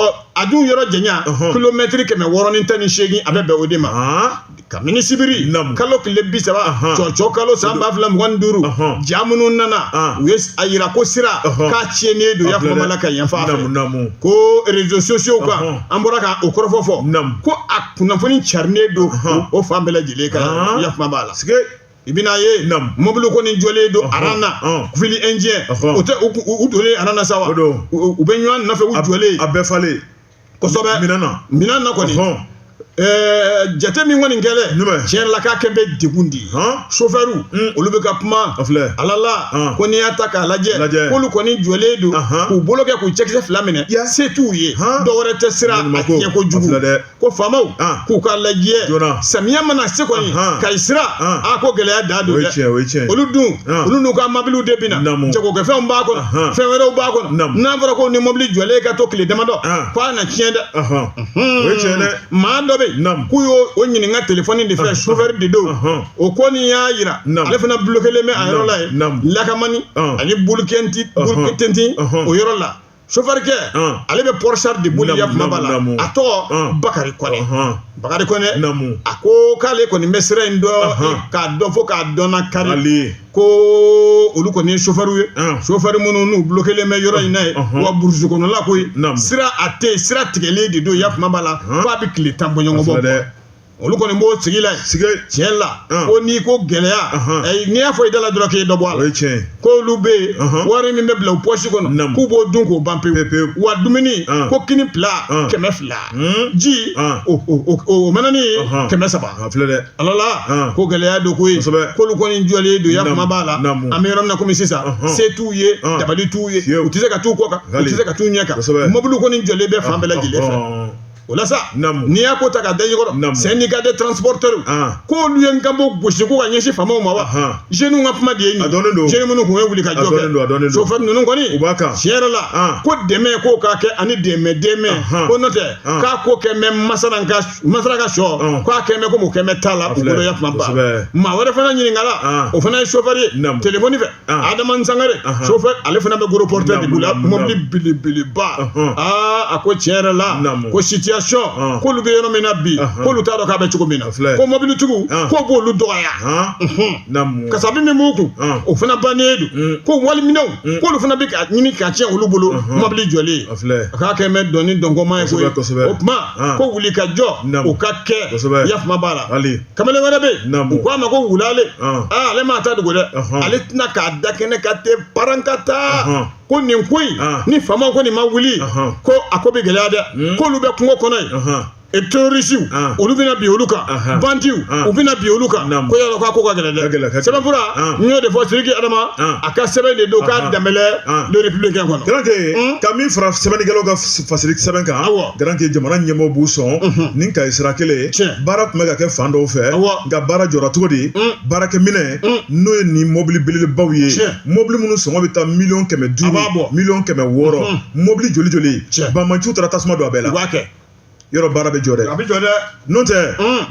S2: ɔ a dun yɔrɔ janya kilomɛtiri kɛmɛ wɔɔrɔ ni tan ni seegin a bɛ bɛn o de ma Kamini sibiri kalo tile bi saba cɔcɔ kalo san ba fila mugan duuru ja minnu nana u ye a yira ko sira k'a tiɲɛnen don ya kuma b'a la ka yan ko réseaux sociaux kan an bɔra k'o kɔrɔfɔ fɔ ko a kunnafoni carinen don o fan bɛɛ lajɛlen kan ya kuma b'a la i bɛna ye mɔbili kɔni jɔlen don a rang na file indienne o tɛ u donnen a rang na sa u bɛ ɲɔgɔn nɔfɛ jɔlen a bɛɛ falen kosɛbɛ minɛn na kɔni jate min kɔni kɛlɛ tiɲɛ la k'a kɛ bɛ degun di sofɛriw olu bɛ ka kuma alala ko n'i y'a ta k'a lajɛ k'olu kɔni jɔlen don k'u bolo kɛ k'u cɛkisɛ fila minɛ se t'u ye dɔwɛrɛ tɛ sira a tiɲɛ kojugu ko faamaw k'u k'a lajɛ samiya mana se kɔni kayi sira a ko gɛlɛya da don dɛ olu dun olu n'u ka mabiliw de bɛ na jagokɛfɛnw b'a kɔnɔ fɛn wɛrɛw b'a kɔnɔ n'a fɔra ko ni mobili jɔlen ka to tile damadɔ ko a na tiɲɛ dɛ maa dɔ bɛ yen k'u y'o ɲininka telefɔni de fɛ sofɛri de don o kɔni y'a jira ale fana blokelen bɛ a yɔrɔ la yen lakamani ani bolokɛnti o yɔrɔ la sofɛrikɛ ale bɛ pɔrisari de boli ya kuma b'a la a tɔgɔ bakari kɔnɛ bakari kɔnɛ a ko k'ale kɔni bɛ sira in dɔn k'a dɔn fo k'a dɔnnakari ko olu kɔni ye sofɛriw ye sofɛri minnu n'u blokelen bɛ yɔrɔ in na yen wa burusi kɔnɔla koyi sira a tɛ sira tigɛlen de don ya kuma b'a la f'a bɛ tile tan bɔɲɔgɔn bɔ olu kɔni b'o sigi la tiɲɛ la ko n'i ko gɛlɛya n'i y'a fɔ i da la dɔrɔn k'i dɔ bɔ a la ko olu bɛ yen wari min bɛ bila u pɔsi kɔnɔ k'u b'o dun k'o ban pewu wa dumuni ko kini pila kɛmɛ fila Hmm? ji ah. o manani kɛmɛ saba alala ko gɛlɛya don koyi k'olu kɔni jɔlen don ya kuma b'a la an bɛ yɔrɔ min na komi sisan se t'u ye dabali t'u ye u tɛ se ka t'u kɔ kan u tɛ se ka t'u ɲɛ kan mobili kɔni jɔlen bɛ fan bɛɛ lajɛlen fɛ o la sa n'i y'a ko ta ka da ɲɛkɔrɔ syndicat des transporteurs k'olu ye nkanbo gosi ko ka ɲɛsin faamaw ma wa jeunes ka kuma de ye nin jeunes minnu tun ye wuli ka jɔ kɛ sofɛ ninnu kɔni tiɲɛ yɛrɛ la ko dɛmɛ k'o k'a kɛ ani dɛmɛ dɛmɛ ko n'o tɛ k'a ko kɛ mɛ masara ka sɔ k'a kɛ mɛ komi o kɛ mɛ t'a la u bolo ya kuma ba maa wɛrɛ fana ɲininkala o fana ye sofɛri ye telefɔni fɛ adama sangare sofɛ ale fana bɛ gros porteur de bolo mɔbili belebeleba aa a ko tiɲɛ yɛrɛ la ko sitiyasɔn k'olu bɛ yɔrɔ min na bi k'olu t'a dɔn k'a bɛ cogo min na ko mɔbilitigiw k'o b'olu dɔgɔya kasabi min b'u kun o fana bannen don ko waliminɛnw k'olu fana bɛ ka ɲini ka tiɲɛ olu bolo mɔbili jɔlen a k'a kɛ mɛ dɔnni dɔnkɔma ye o tuma ko wuli ka jɔ o ka kɛ yafama b'a la kamalen wɛrɛ bɛ yen u k'a ma ko wulale aa ale m'a ta dogo dɛ ale tɛna k'a da kɛnɛ kan tɛ parankata ko nin ko in ni faamaw kɔni ma wuli ko a ko bɛ gɛlɛya dɛ hmm. k'olu bɛ kungo kɔnɔ yen terrorisiw ah. olu bɛna bin olu kan bandiw ah. u bɛna bin olu kan ko yala k'a ko ka gɛlɛn dɛ sɛbɛnfura ah. min y'o de fɔ Sidiki Adama a ka sɛbɛn de don k'a danbɛlɛ le républicain kɔnɔ garanke hmm? ka min fara
S1: sɛbɛnnikɛlaw ka fasiri sɛbɛn kan awɔ garanke jamana ɲɛmɔgɔ b'u sɔn mhm. ni kayi sira kelen ye baara tun bɛ ka kɛ fan dɔw fɛ nka baara jɔra cogo di baarakɛminɛ n'o ye nin mɔbili belebelebaw ye mɔbili minnu sɔngɔ bɛ taa miliyɔn kɛmɛ duuru miliyɔn kɛmɛ wɔɔrɔ mɔbili joli joli banbaanciw taara tasuma don a bɛɛ la b'a kɛ yɔrɔ baara bɛ jɔ dɛ a bɛ jɔ dɛ n'o tɛ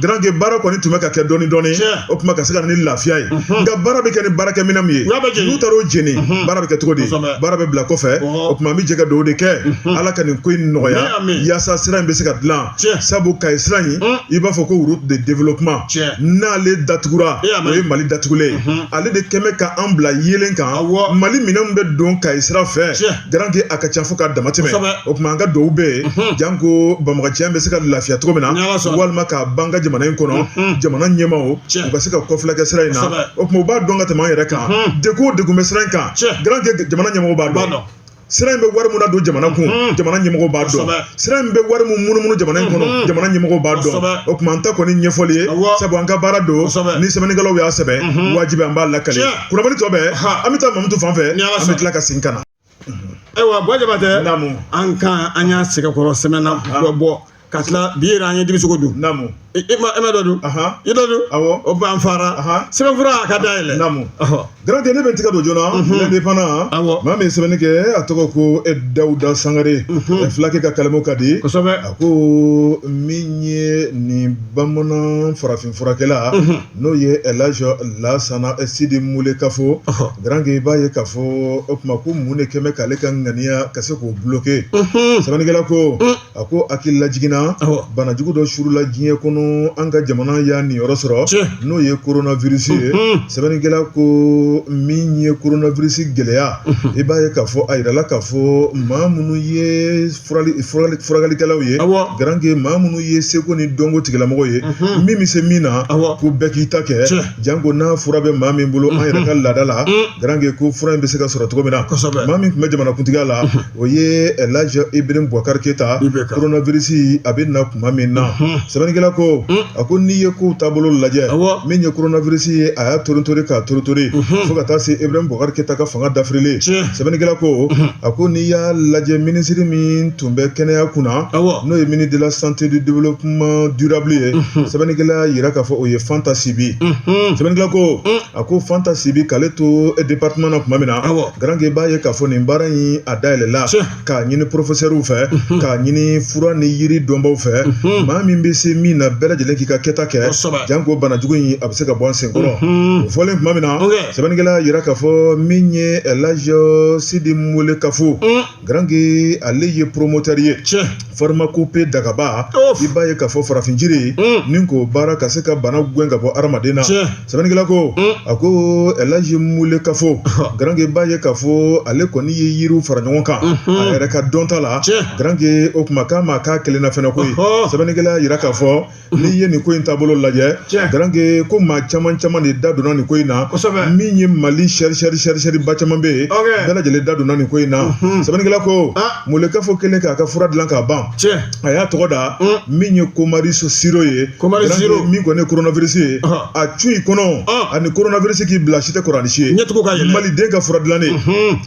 S1: garankɛ baara kɔni tun bɛ ka kɛ dɔɔnin dɔɔnin o tuma ka se ka na ni lafiya ye nka baara bɛ kɛ ni baarakɛminɛn min ye n'u taara o jeni baara bɛ kɛ cogo di baara bɛ bila kɔfɛ o tuma an bɛ jɛ ka dugawu de kɛ ala ka nin ko in nɔgɔya yaasa sira in bɛ se ka dila sabu kayi sira in i b'a fɔ ko route de développement n'ale datugura o ye mali datugulen ale de kɛmɛ ka an bila yelen kan mali minɛn bɛ don kayi sira fɛ garankɛ a ka ca fo ka damatɛmɛ o tuma an ka dugawu bɛ yen janko banbaganciya bɛ se ka lafiya cogo min na walima ka ban an ka jamana in kɔnɔ jamana ɲɛmaaw u ka se ka kɔfilɛ kɛ sira in na o tuma u b'a dɔn ka tɛmɛ an yɛrɛ kan degun o degun bɛ sira in kan garankɛ jamana ɲɛmaaw b'a dɔn sira in bɛ wari min nadon jamana kun jamana ɲɛmɔgɔw b'a dɔn sira in bɛ wari min munumunu jamana in kɔnɔ jamana ɲɛmɔgɔw b'a dɔn o tuma an ta kɔni ɲɛfɔli ye sabu an ka baara don ni sɛbɛnnikɛlaw y'a sɛbɛn wajibi an b'a lakale kunnafoni tɔ bɛɛ an bɛ taa mamutu fan fɛ an bɛ tila ka segin ka na ayiwa
S2: buwa jabatɛ an kan an y'a sɛgɛnkɔrɔ sɛmɛnna bɔ ka tila bi yɛrɛ an ye denmisɛnw dun namu e ma e ma dɔ dun i dɔ dun awɔ o tuma an fara sɛbɛnfura a ka da yɛlɛ namu garankɛ ne
S1: bɛ tigɛ don journal l'indépendant awɔ maa min ye sɛbɛnni kɛ a tɔgɔ ko dawuda sangare filakɛ ka kalamu ka di kosɛbɛ a ko min ye nin bamanan farafin furakɛla n'o ye elaji lasana sidi mulekafo garankɛ i b'a ye k'a fɔ o tuma ko mun de kɛmɛ k'ale ka ŋaniya ka se k'o buloke sɛbɛnnikɛla ko a ko hakili lajiginna banajugu dɔ surula diɲɛ kɔnɔ an ka jamana y'a niyɔrɔ sɔrɔ n'o ye koronavirisi ye sɛbɛnnikɛla ko min ye koronavirisi gɛlɛya i b'a ye k'a fɔ a yirala k'a fɔ maa minnu ye furakɛlikɛlaw ye garankɛ maa minnu ye seko ni dɔnko tigilamɔgɔ ye min bɛ se min na ko bɛɛ k'i ta kɛ janko n'a fura bɛ maa min bolo an yɛrɛ ka laadada la garankɛ ko fura in bɛ se ka sɔrɔ cogo min na maa min tun bɛ jamanakuntigiya la o ye elaji ibrahim bubakari keyita koronavirisi a bɛ na tuma min na sɛbɛnnikɛla ko a ko n'i ye kow taabolo lajɛ min ye koronavirisi ye a y'a toritori k'a toritori fo ka taa se ibrahim bubakari keyita ka fanga dafirili sɛbɛnnikɛla ko a ko n'i y'a lajɛ minisiri min tun bɛ kɛnɛya kunna n'o ye ministre de la santé du développement durable ye sɛbɛnnikɛla y'a yira k'a fɔ o ye fanta sibi sɛbɛnnikɛla ko a ko fanta sibi k'ale to e département na tuma min na garankɛ b'a ye k'a fɔ nin baara in a dayɛlɛla k'a ɲini porofesɛriw fɛ k'a ɲini fura ni yiri dɔnbaw fɛ maa min bɛ se min na bɛɛ lajɛlen k'i ka kɛta kɛ janko banajugu in a bɛ se ka bɔ an senkɔrɔ o fɔlen tuma min na sɛbɛnnikɛla y'a yira k'a fɔ min ye laji sidi mulekafo Garange ale ye promoteur ye pharmacopée Dagaba i b'a ye k'a fɔ farafin jiri ni k'o baara ka se ka bana gɛn ka bɔ hadamaden na sɛbɛnnikɛla ko a ko Elaji Mulekafo garange i b'a ye k'a fɔ ale kɔni ye yiri fara ɲɔgɔn kan a yɛrɛ ka dɔnta la garange o tuma k'a ma k'a kelenna fɛnɛ koyi sɛbɛnnikɛla y'a yira k'a fɔ n'i ye nin ko in taabolo lajɛ garanke ko maa caman caman de da donna nin ko in na min ye Mali sɛrisɛriba caman bɛ yen bɛɛ lajɛlen da donna nin ko in na sɛbɛnnikɛla ko Mulekafo kelen k'a ka fura dilan k'a ban a y'a tɔgɔ da min ye komariso siro ye ko min kɔni ye koronavirisi ye a cun i kɔnɔ ani koronavirisi k'i bila si tɛ kɔrɔsi ye ɲɛ maliden ka fura dilannen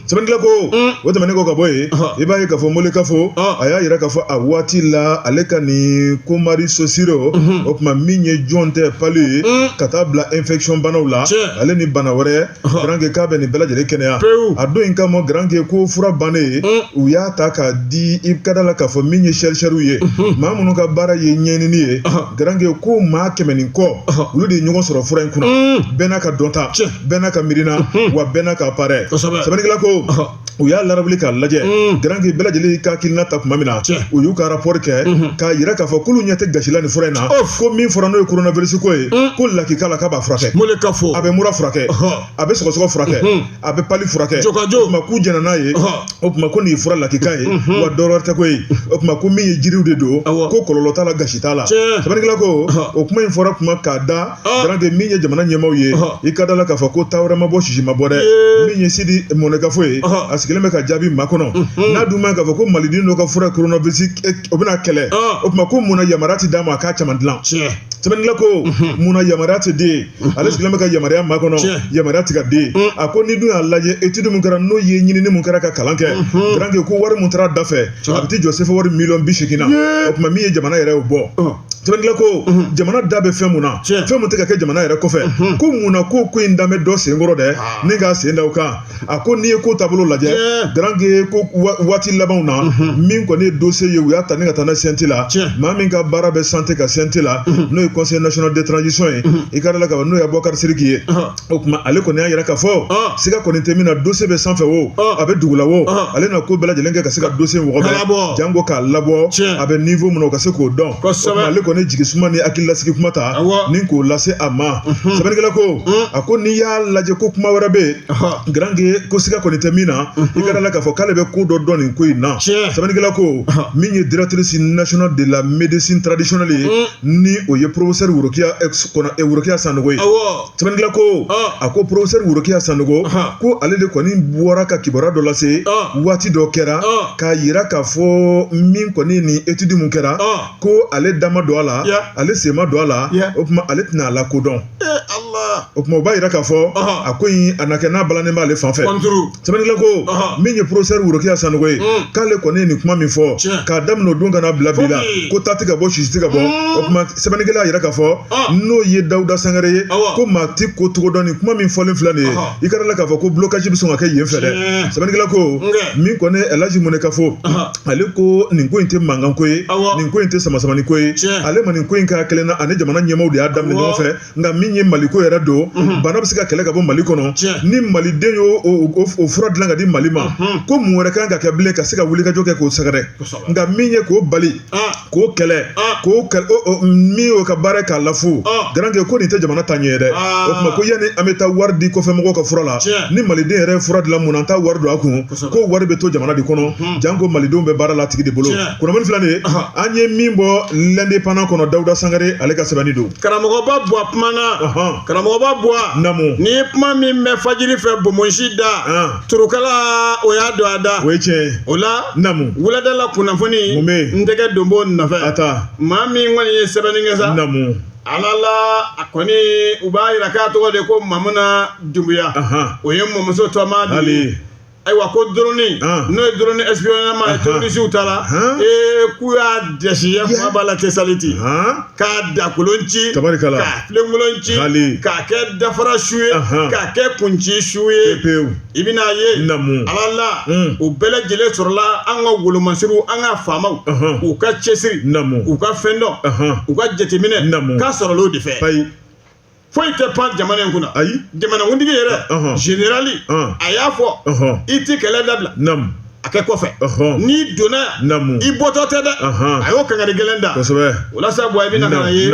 S1: sɛbɛnnikɛla ko mm. o tɛmɛnen kɔ ka bɔ yen i b'a ye k'a fɔ Mulekafo a y'a yira k'a fɔ a waati la ale ka nin komariso siro mm-hmm. o tuma min ye jɔntɛ pali ye mm. ka taa bila infection banaw la ale ni bana wɛrɛ garanke k'a bɛ nin bɛɛ lajɛlen kɛnɛya a don in kama garanke ko fura bannen ye mm. u y'a ta k'a di i ka da la k'a fɔ min ye sɛrisɛriw ye mm-hmm. maa minnu ka baara ye ɲɛɲini ye garanke ko maa kɛmɛ ni kɔ olu de ye ɲɔgɔn sɔrɔ fura in kunna bɛɛ n'a ka dɔnta bɛɛ n'a ka miirina wa bɛɛ n'a ka appareil sɛbɛnnikɛla ko u y'a larawuli k'a lajɛ garanke bɛɛ lajɛlen ka hakilina ta tuma min na u y'u ka rapport kɛ k'a yira k'a fɔ k'olu ɲɛ tɛ gasi la nin fura in na ko min fɔra n'o ye coronavirus ko ye ko lakika la k'a b'a furakɛ mun de ka fɔ a bɛ mura furakɛ a bɛ sɔgɔsɔgɔ furakɛ a bɛ pali furakɛ jɔkajɔ o tuma k'u jɛnna n'a ye o tuma ko nin ye fura lakika ye wa dɔwɛrɛ tɛ koyi o tuma ko min ye jiriw de don ko kɔlɔlɔ t'a la gasi t'a la sɛbɛnnikɛla ko o kuma in fɔra tuma k'a da garanke min ye jamana ɲɛmaaw ye i ka da la k'a fɔ ko ta wɛrɛ ma bɔ sisi ma bɔ dɛ min ye Sidi Mulekafo ye a sigilen bɛ ka jaabi makɔnɔ n'a dun ma k'a fɔ ko maliden dɔ ka fura koronavirisi o bɛna kɛlɛ o tuma ko mun na yamaruya tɛ d'a ma a k'a caman dilan sɛbɛnnikɛla ko mun na yamaruya tɛ di ale sigilen bɛ ka yamaruya makɔnɔ yamaruya tɛ ka di a ko n'i dun y'a lajɛ étude min kɛra n'o ye ɲinini min kɛra ka kalan kɛ garanke ko wari min taara dafɛ a bɛ t'i jɔ sefa wari miliyɔn bi seegin na o tuma min ye jamana yɛrɛ y'o bɔ sɛbɛnnikɛla ko jamana da bɛ fɛn min na fɛn min tɛ ka kɛ jamana yɛrɛ kɔfɛ ko mun na ko ko in da bɛ dɔ senkɔrɔ dɛ ni k'a sen da o kan a ko n'i ye ko taabolo lajɛ garange ko waati labanw na min kɔni ye dossier ye u y'a ta ni ka taa n'a CNT la maa min ka baara bɛ santé ka CNT la n'o ye conseil national de transition ye i ka da la k'a fɔ n'o ye Abubakari Sidiki ye o tuma ale kɔni y'a yira k'a fɔ siga kɔni tɛ min na dossier bɛ sanfɛ o a bɛ dugula o ale na ko bɛɛ lajɛlen kɛ ka se ka dossier wɔgɔbɛ janko k'a labɔ a bɛ niveau min na o ka se k'o dɔn ale kɔni jigi suma ni hakililasigi kuma ta ni k'o lase a ma sɛbɛnnikɛla ko a ko n'i y'a lajɛ ko kuma wɛrɛ bɛ yen garange ko siga kɔni tɛ min na i ka da la k'a fɔ k'ale bɛ ko dɔ dɔn nin ko in na sɛbɛnnikɛla ko min ye directrice nationale de la médecine traditionnelle ye ni o ye professeur Worokiya Sanɔgɔ ye Sɛbɛnnikɛla ko, ɔn, a ko professeur Worokiya Sanogo, ɔnhɔn, ko ale de kɔni bɔra ka kibaruya dɔ lase, ɔn, waati dɔ kɛra, ɔn, k'a yira k'a fɔ min kɔni ye nin étude min kɛra, ɔn, ko ale da ma don a la, ya, ale sen ma don a la, ya, o tuma ale tɛna a lakodɔn, ee Ala, o tuma o b'a yira k'a fɔ, ɔnhɔn, a ko in a na kɛ n'a balannen b'ale fan fɛ, kɔnturu Sɛbɛnnikɛla ko min ye professeur Worokiya Sanogo ye k'ale kɔni nin kuma min fɔ k'a daminɛ o don ka na bila bi la ko ta tɛ ka bɔ sisi tɛ ka bɔ o tuma sɛbɛnnikɛla y'a yira k'a fɔ n'o ye dawuda sangare ye ko maa tɛ ko cogo dɔn nin kuma min fɔlen filɛ nin ye i ka da a la k'a fɔ ko blocage bɛ sɔn ka kɛ yen fɛ dɛ sɛbɛnnikɛla ko min kɔni El Hadji Munekafo ale ko nin ko in tɛ mankanko ye nin ko in tɛ samasamani ko ye ale ma nin ko in k'a kelen na a ni jamana ɲɛmaaw de y'a daminɛ ɲɔgɔn fɛ nka min ye mali ko yɛrɛ don bana bɛ se ka kɛlɛ ka bɔ mali kɔnɔ ni maliden y'o fura dilan ka di mali ma ko mun wɛrɛ kan ka kɛ bilen ka se ka wulikajɔ kɛ k'o sɛgɛrɛ nka min ye k'o bali k'o kɛlɛ k'o min y'o ka baara k'a lafu garankɛ ko nin tɛ jamana taaɲɛ ye dɛ o tuma ko yanni an bɛ taa wari di kɔfɛ mɔgɔw ka fura la ni maliden yɛrɛ ye fura dilan mun na an t'a wari don a kun ko wari bɛ to jamana de kɔnɔ janko malidenw bɛ baara la a tigi de bolo kunnafoni filɛ nin ye an ye min bɔ l'Indépendant kɔnɔ dawuda sangare ale ka sɛbɛnni don karamɔgɔba buwa
S2: kuma na karamɔgɔba buwa ni kuma
S1: min
S2: bɛ fajiri fɛ bonmosi da turukala o y'a don a da o tiɲɛ o la wuladala
S1: kunnafoni
S2: n tɛgɛ don b'o nɔfɛ maa min kɔni ye sɛbɛnni kɛ sa ala
S1: la
S2: a kɔni u b'a yira k'a tɔgɔ de ko mamuna dumbuya o ye mɔmuso tɔma de ye ayiwa ko drone n'o ye drone espionnage ye terorisiw ta la ee k'u y'a dɛsi ya kuma b'a la tesaliti k'a dakolon ci k'a filenkolon ci k'a kɛ dafara su ye k'a kɛ kunci su ye i bɛna ye ala la u bɛɛ lajɛlen sɔrɔla an ka wolomasiriw an ka faamaw u ka cɛsiri u ka fɛn dɔn u ka jateminɛ k'a sɔrɔla o de fɛ foyi tɛ pan jamana in kunna ayi jamanakuntigi yɛrɛ zenerali a y'a fɔ i tɛ kɛlɛ dabila a kɛ kɔfɛ n'i donna yan i bɔtɔ tɛ dɛ a y'o kangari gɛlɛn da o la sa Buwa i bɛna ka na ye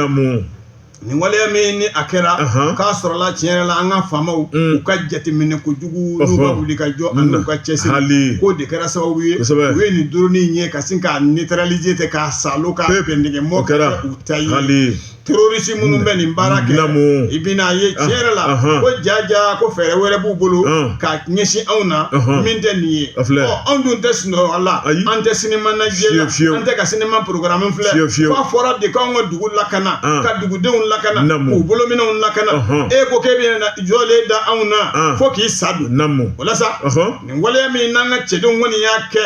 S2: nin waleya min ni a kɛra k'a sɔrɔla tiɲɛ yɛrɛ la an ka faamaw u ka jateminɛ kojugu n'u ka wulikajɔ ani n'u ka cɛsiri k'o de kɛra sababu ye u ye nin drone in ye ka sin k'a neutraliser ten k'a salo k'a bɛn dɛgɛ mɔ kɛ u ta ye. terroriste minnu bɛ nin baara kɛ Namo. i bɛna ye tiɲɛ yɛrɛ la Ahan. ko jaja ko fɛɛrɛ wɛrɛ b'u bolo Ɔn. ka ɲɛsin anw na Ahan. min tɛ nin ye A filɛ. Ɔ, anw dun tɛ sunɔgɔ a la Ayi. an tɛ sinima najɛ la Fiyewu, fiyewu. an tɛ ka sinima programme filɛ Fiyewu, fiyewu. f'a fɔra de k'anw ka dugu lakana Ɔn. ka dugudenw lakana Namo. k'u bolominɛnw lakana Ɔhɔn. e ko k'e bɛna jɔlen da anw na Ɔn. fo k'i sa don Namo. o la sa Ɔhɔn. nin waleya min n'an ka cɛdenw kɔni y'a kɛ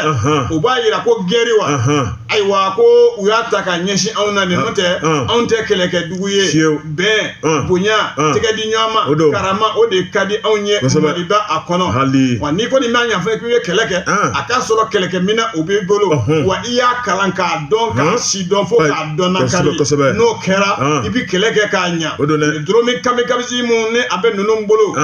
S2: o b'a yira ko gɛri wa ayiwa ko u y'a ta ka ɲɛsin anw na nin n'o tɛ anw tɛ kɛlɛkɛ dugu ye bɛn bonya tɛgɛ di ɲɔgɔn ma karama o de ka di anw ye maliba a kɔnɔ wa n'i kɔni b'a ɲɛfɔ k'i ye kɛlɛ kɛ a k'a sɔrɔ kɛlɛkɛminɛn o b'i bolo wa i y'a kalan k'a dɔn k'a si dɔn fo k'a dɔnnakari n'o kɛra i bɛ kɛlɛ kɛ ka ɲɛ drone kamikaze min ni a bɛ ninnu bolo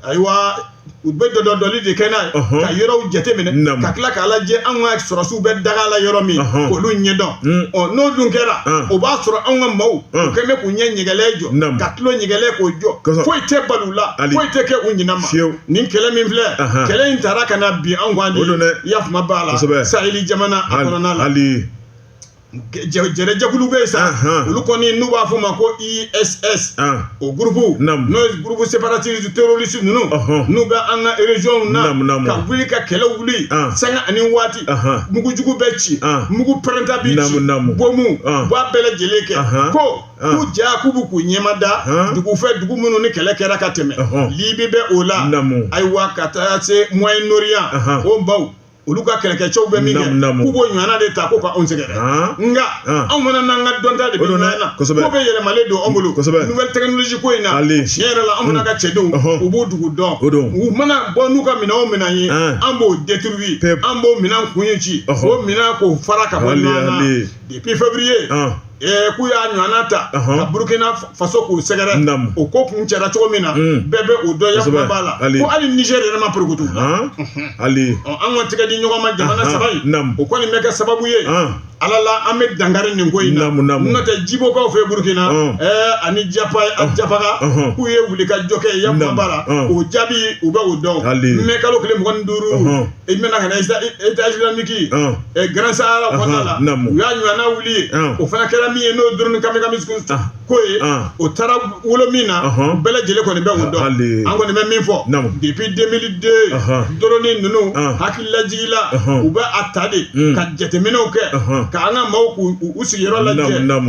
S2: ayiwa u bɛ dɔ dɔdɔli de kɛ n'a ye Ɔhɔn. ka yɔrɔw jateminɛ Naamu. ka tila k'a lajɛ an ka sɔrɔsiw bɛ daga la yɔrɔ min Ɔhɔn. k'olu ɲɛdɔn Mm. ɔ n'o dun kɛra Mm. o b'a sɔrɔ an ka maaw u Mm. kɛn bɛ k'u ɲɛ ɲɛgɛlɛ jɔ Naamu. ka tulo ɲɛgɛlɛ k'o jɔ Kosɛbɛ. foyi tɛ bali u la Hali. foyi tɛ kɛ u ɲinɛ ma Fewu. nin kɛlɛ min filɛ Ahan. kɛlɛ in taara ka na bin an kan de O don dɛ. i y'a faamu Bala Kosɛbɛ. Saheli jamana a kɔnɔna la hali jɛnɛjɛkulu bɛ yen sa olu kɔni n'u b'a fɔ o ma ko ISS o groupe n'o ye groupe séparatiste terroriste ninnu n'u bɛ an ka région na ka wuli ka kɛlɛ wuli sanga ani waati mugujugu bɛ ci mugu pɛrɛnta bɛ ci bɔnmu u b'a bɛɛ lajɛlen kɛ ko k'u ja k'u bɛ k'u ɲɛmada dugu fɛ dugu minnu ni kɛlɛ kɛra ka tɛmɛ Libi bɛ o la ayiwa ka taa se Moyen-Orient o maaw olu ka kɛlɛkɛcɛw bɛ min kɛ k'u b'o ɲɔgɔnna de ta ko ka anw sɛgɛrɛ nka anw fana n'an ka dɔnta de bɛ ɲɔgɔn na kosɛbɛ ko bɛɛ yɛlɛmalen don anw bolo kosɛbɛ nouvelle technologie ko in na tiɲɛ yɛrɛ la anw fana ka cɛdenw u b'o dugu dɔn o don u mana bɔ n'u ka minɛn o minɛn ye an b'o détruit an b'o minɛn kun ye ci k'o minɛn k'o fara ka bɔ ɲɔgɔn na. Depuis février ɔn ɛɛ k'u y'a ɲɔgɔnna ta ɔnhɔn ka Burkina f Faso k'u sɛgɛrɛ naamu o ko kuncɛra cogo min na uun bɛɛ be o dɔn yakuba b'a la kosɛbɛ ko hali Niger yɛrɛ ma porokoto haan unhun halii ɔ an ka tigɛ di ɲɔgɔn ma jamana anhan 3 in naamu o kɔni bɛ kɛ sababu ye ɔn Ala la an be dankari nin ko in na naamu naamu n'o tɛ Jibokaw fɛ Burkina ɔn ɛɛ ani Japaga ɔnhɔn k'u ye wulikajɔ kɛ yakuba naamu b'a la ɔn o jaabi u be o dɔn halii mai kalo tile 25 ɔnhɔn i Menaka na État islamique Grand Sahara kɔnɔna la u y'a ɲɔgɔnna wuli o fana kɛra min ye n'o drone kamikaze ko ye o taara wolo min na bɛɛ lajɛlen kɔni bɛ o dɔn an kɔni bɛ min fɔ depuis 2002 drone ninnu hakililajigila u bɛ a ta de ka jateminɛw kɛ ka an ka maaw k'u u sigiyɔrɔ la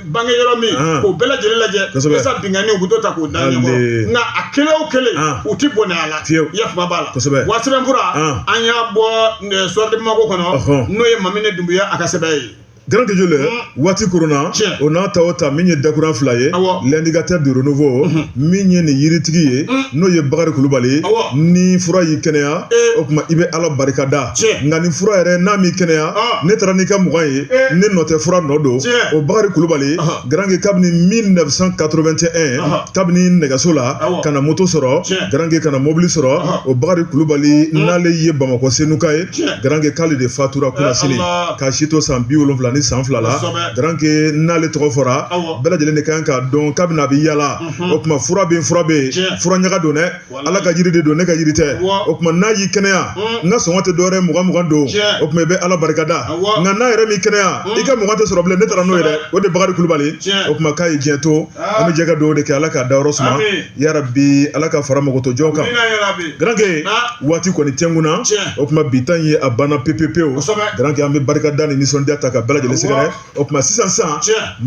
S2: bange yɔrɔ min k'o bɛɛ lajɛlen lajɛ walasa binkanni u bɛ dɔ ta k'o da ɲɔgɔn nka a kelen o kelen u tɛ bɔnɛ a la yafa b'a la wa sɛbɛnfura an y'a bɔ Soir de Bamako kɔnɔ n'o ye Mamini Dunbuya a ka sɛbɛn ye Grand Gueule
S1: waati koronna o n'a ta o ta min ye dakuruya fila ye l'indicateur de renouveau min ye nin yiritigi ye n'o ye Bakari Kulubali ye ni fura y'i kɛnɛya o tuma i bɛ Ala barikada nka ni fura yɛrɛ n'a m'i kɛnɛya ne taara n'i ka mugan ye ne nɔ tɛ fura nɔ don o bakari kulubali garankɛ kabini 1981 kabini nɛgɛso la ka na moto sɔrɔ garankɛ ka na mobili sɔrɔ o bakari kulubali n'ale ye bamakɔ senuka ye garankɛ k'ale de fatura kunnasini k'a si to san bi wolonwula ni san fila la garankɛ n'ale tɔgɔ fɔra bɛɛ lajɛlen de kan k'a dɔn kabini a bɛ yala o kuma fura bɛ fura bɛ fura ɲaga don dɛ Ala ka jiri de don ne ka jiri tɛ o kuma n'a y'i kɛnɛya n ka sɔngɔ tɛ dɔwɛrɛ mugan mugan don o kuma i bɛ ala barikada nka n'a yɛrɛ m'i kɛnɛya i ka mugan tɛ sɔrɔ bilen ne taara n'o ye dɛ o de bakari kulubali o kuma k'a ye diɲɛ to an bɛ jɛ ka dugawu de kɛ ala ka dayɔrɔ suma yarabi ala k'a fara mɔgɔtɔ jɔn kan garankɛ waati kɔni tɛ n kun na o kuma bi tan ye a banna pepewu garankɛ an bɛ barikada ni nisɔndiya ta ka bɛɛ lajɛlen sɛgɛrɛ o kuma sisan sisan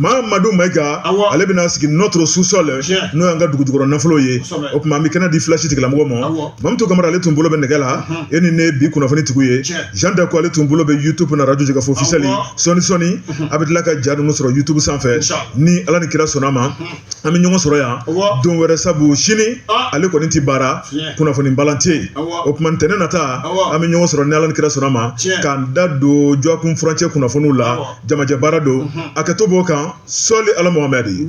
S1: mahamadu mayiga ale bɛna sigi notre sous-sol n'o y'an ka dugujukɔrɔ nafolo ye o kuma an bɛ kɛnɛ di flash tigilamɔgɔ ma mamutu kamara ale tun bolo bɛ nɛgɛ la e ni ne bi kunnafoni tigi ye jan dako ale tun bolo bɛ yutubu na arajo jɛkafɔ ofisiyɛli sɔɔni sɔɔni a bɛ tila ka ja ninnu sɔrɔ yutubu sanfɛ ni ala ni kira sɔnna ma an bɛ ɲɔgɔn sɔrɔ yan don wɛrɛ sabu sini ale kɔni tɛ baara kunnafoni balan tɛ o kuma ntɛnɛn nata an bɛ ɲɔgɔn sɔrɔ ni ala ni kira sɔnna ma k'an da don dɔgɔkun furancɛ kunnafoniw la jamajɛ baara don a kɛ to b'o kan sɔli ala muhamɛdi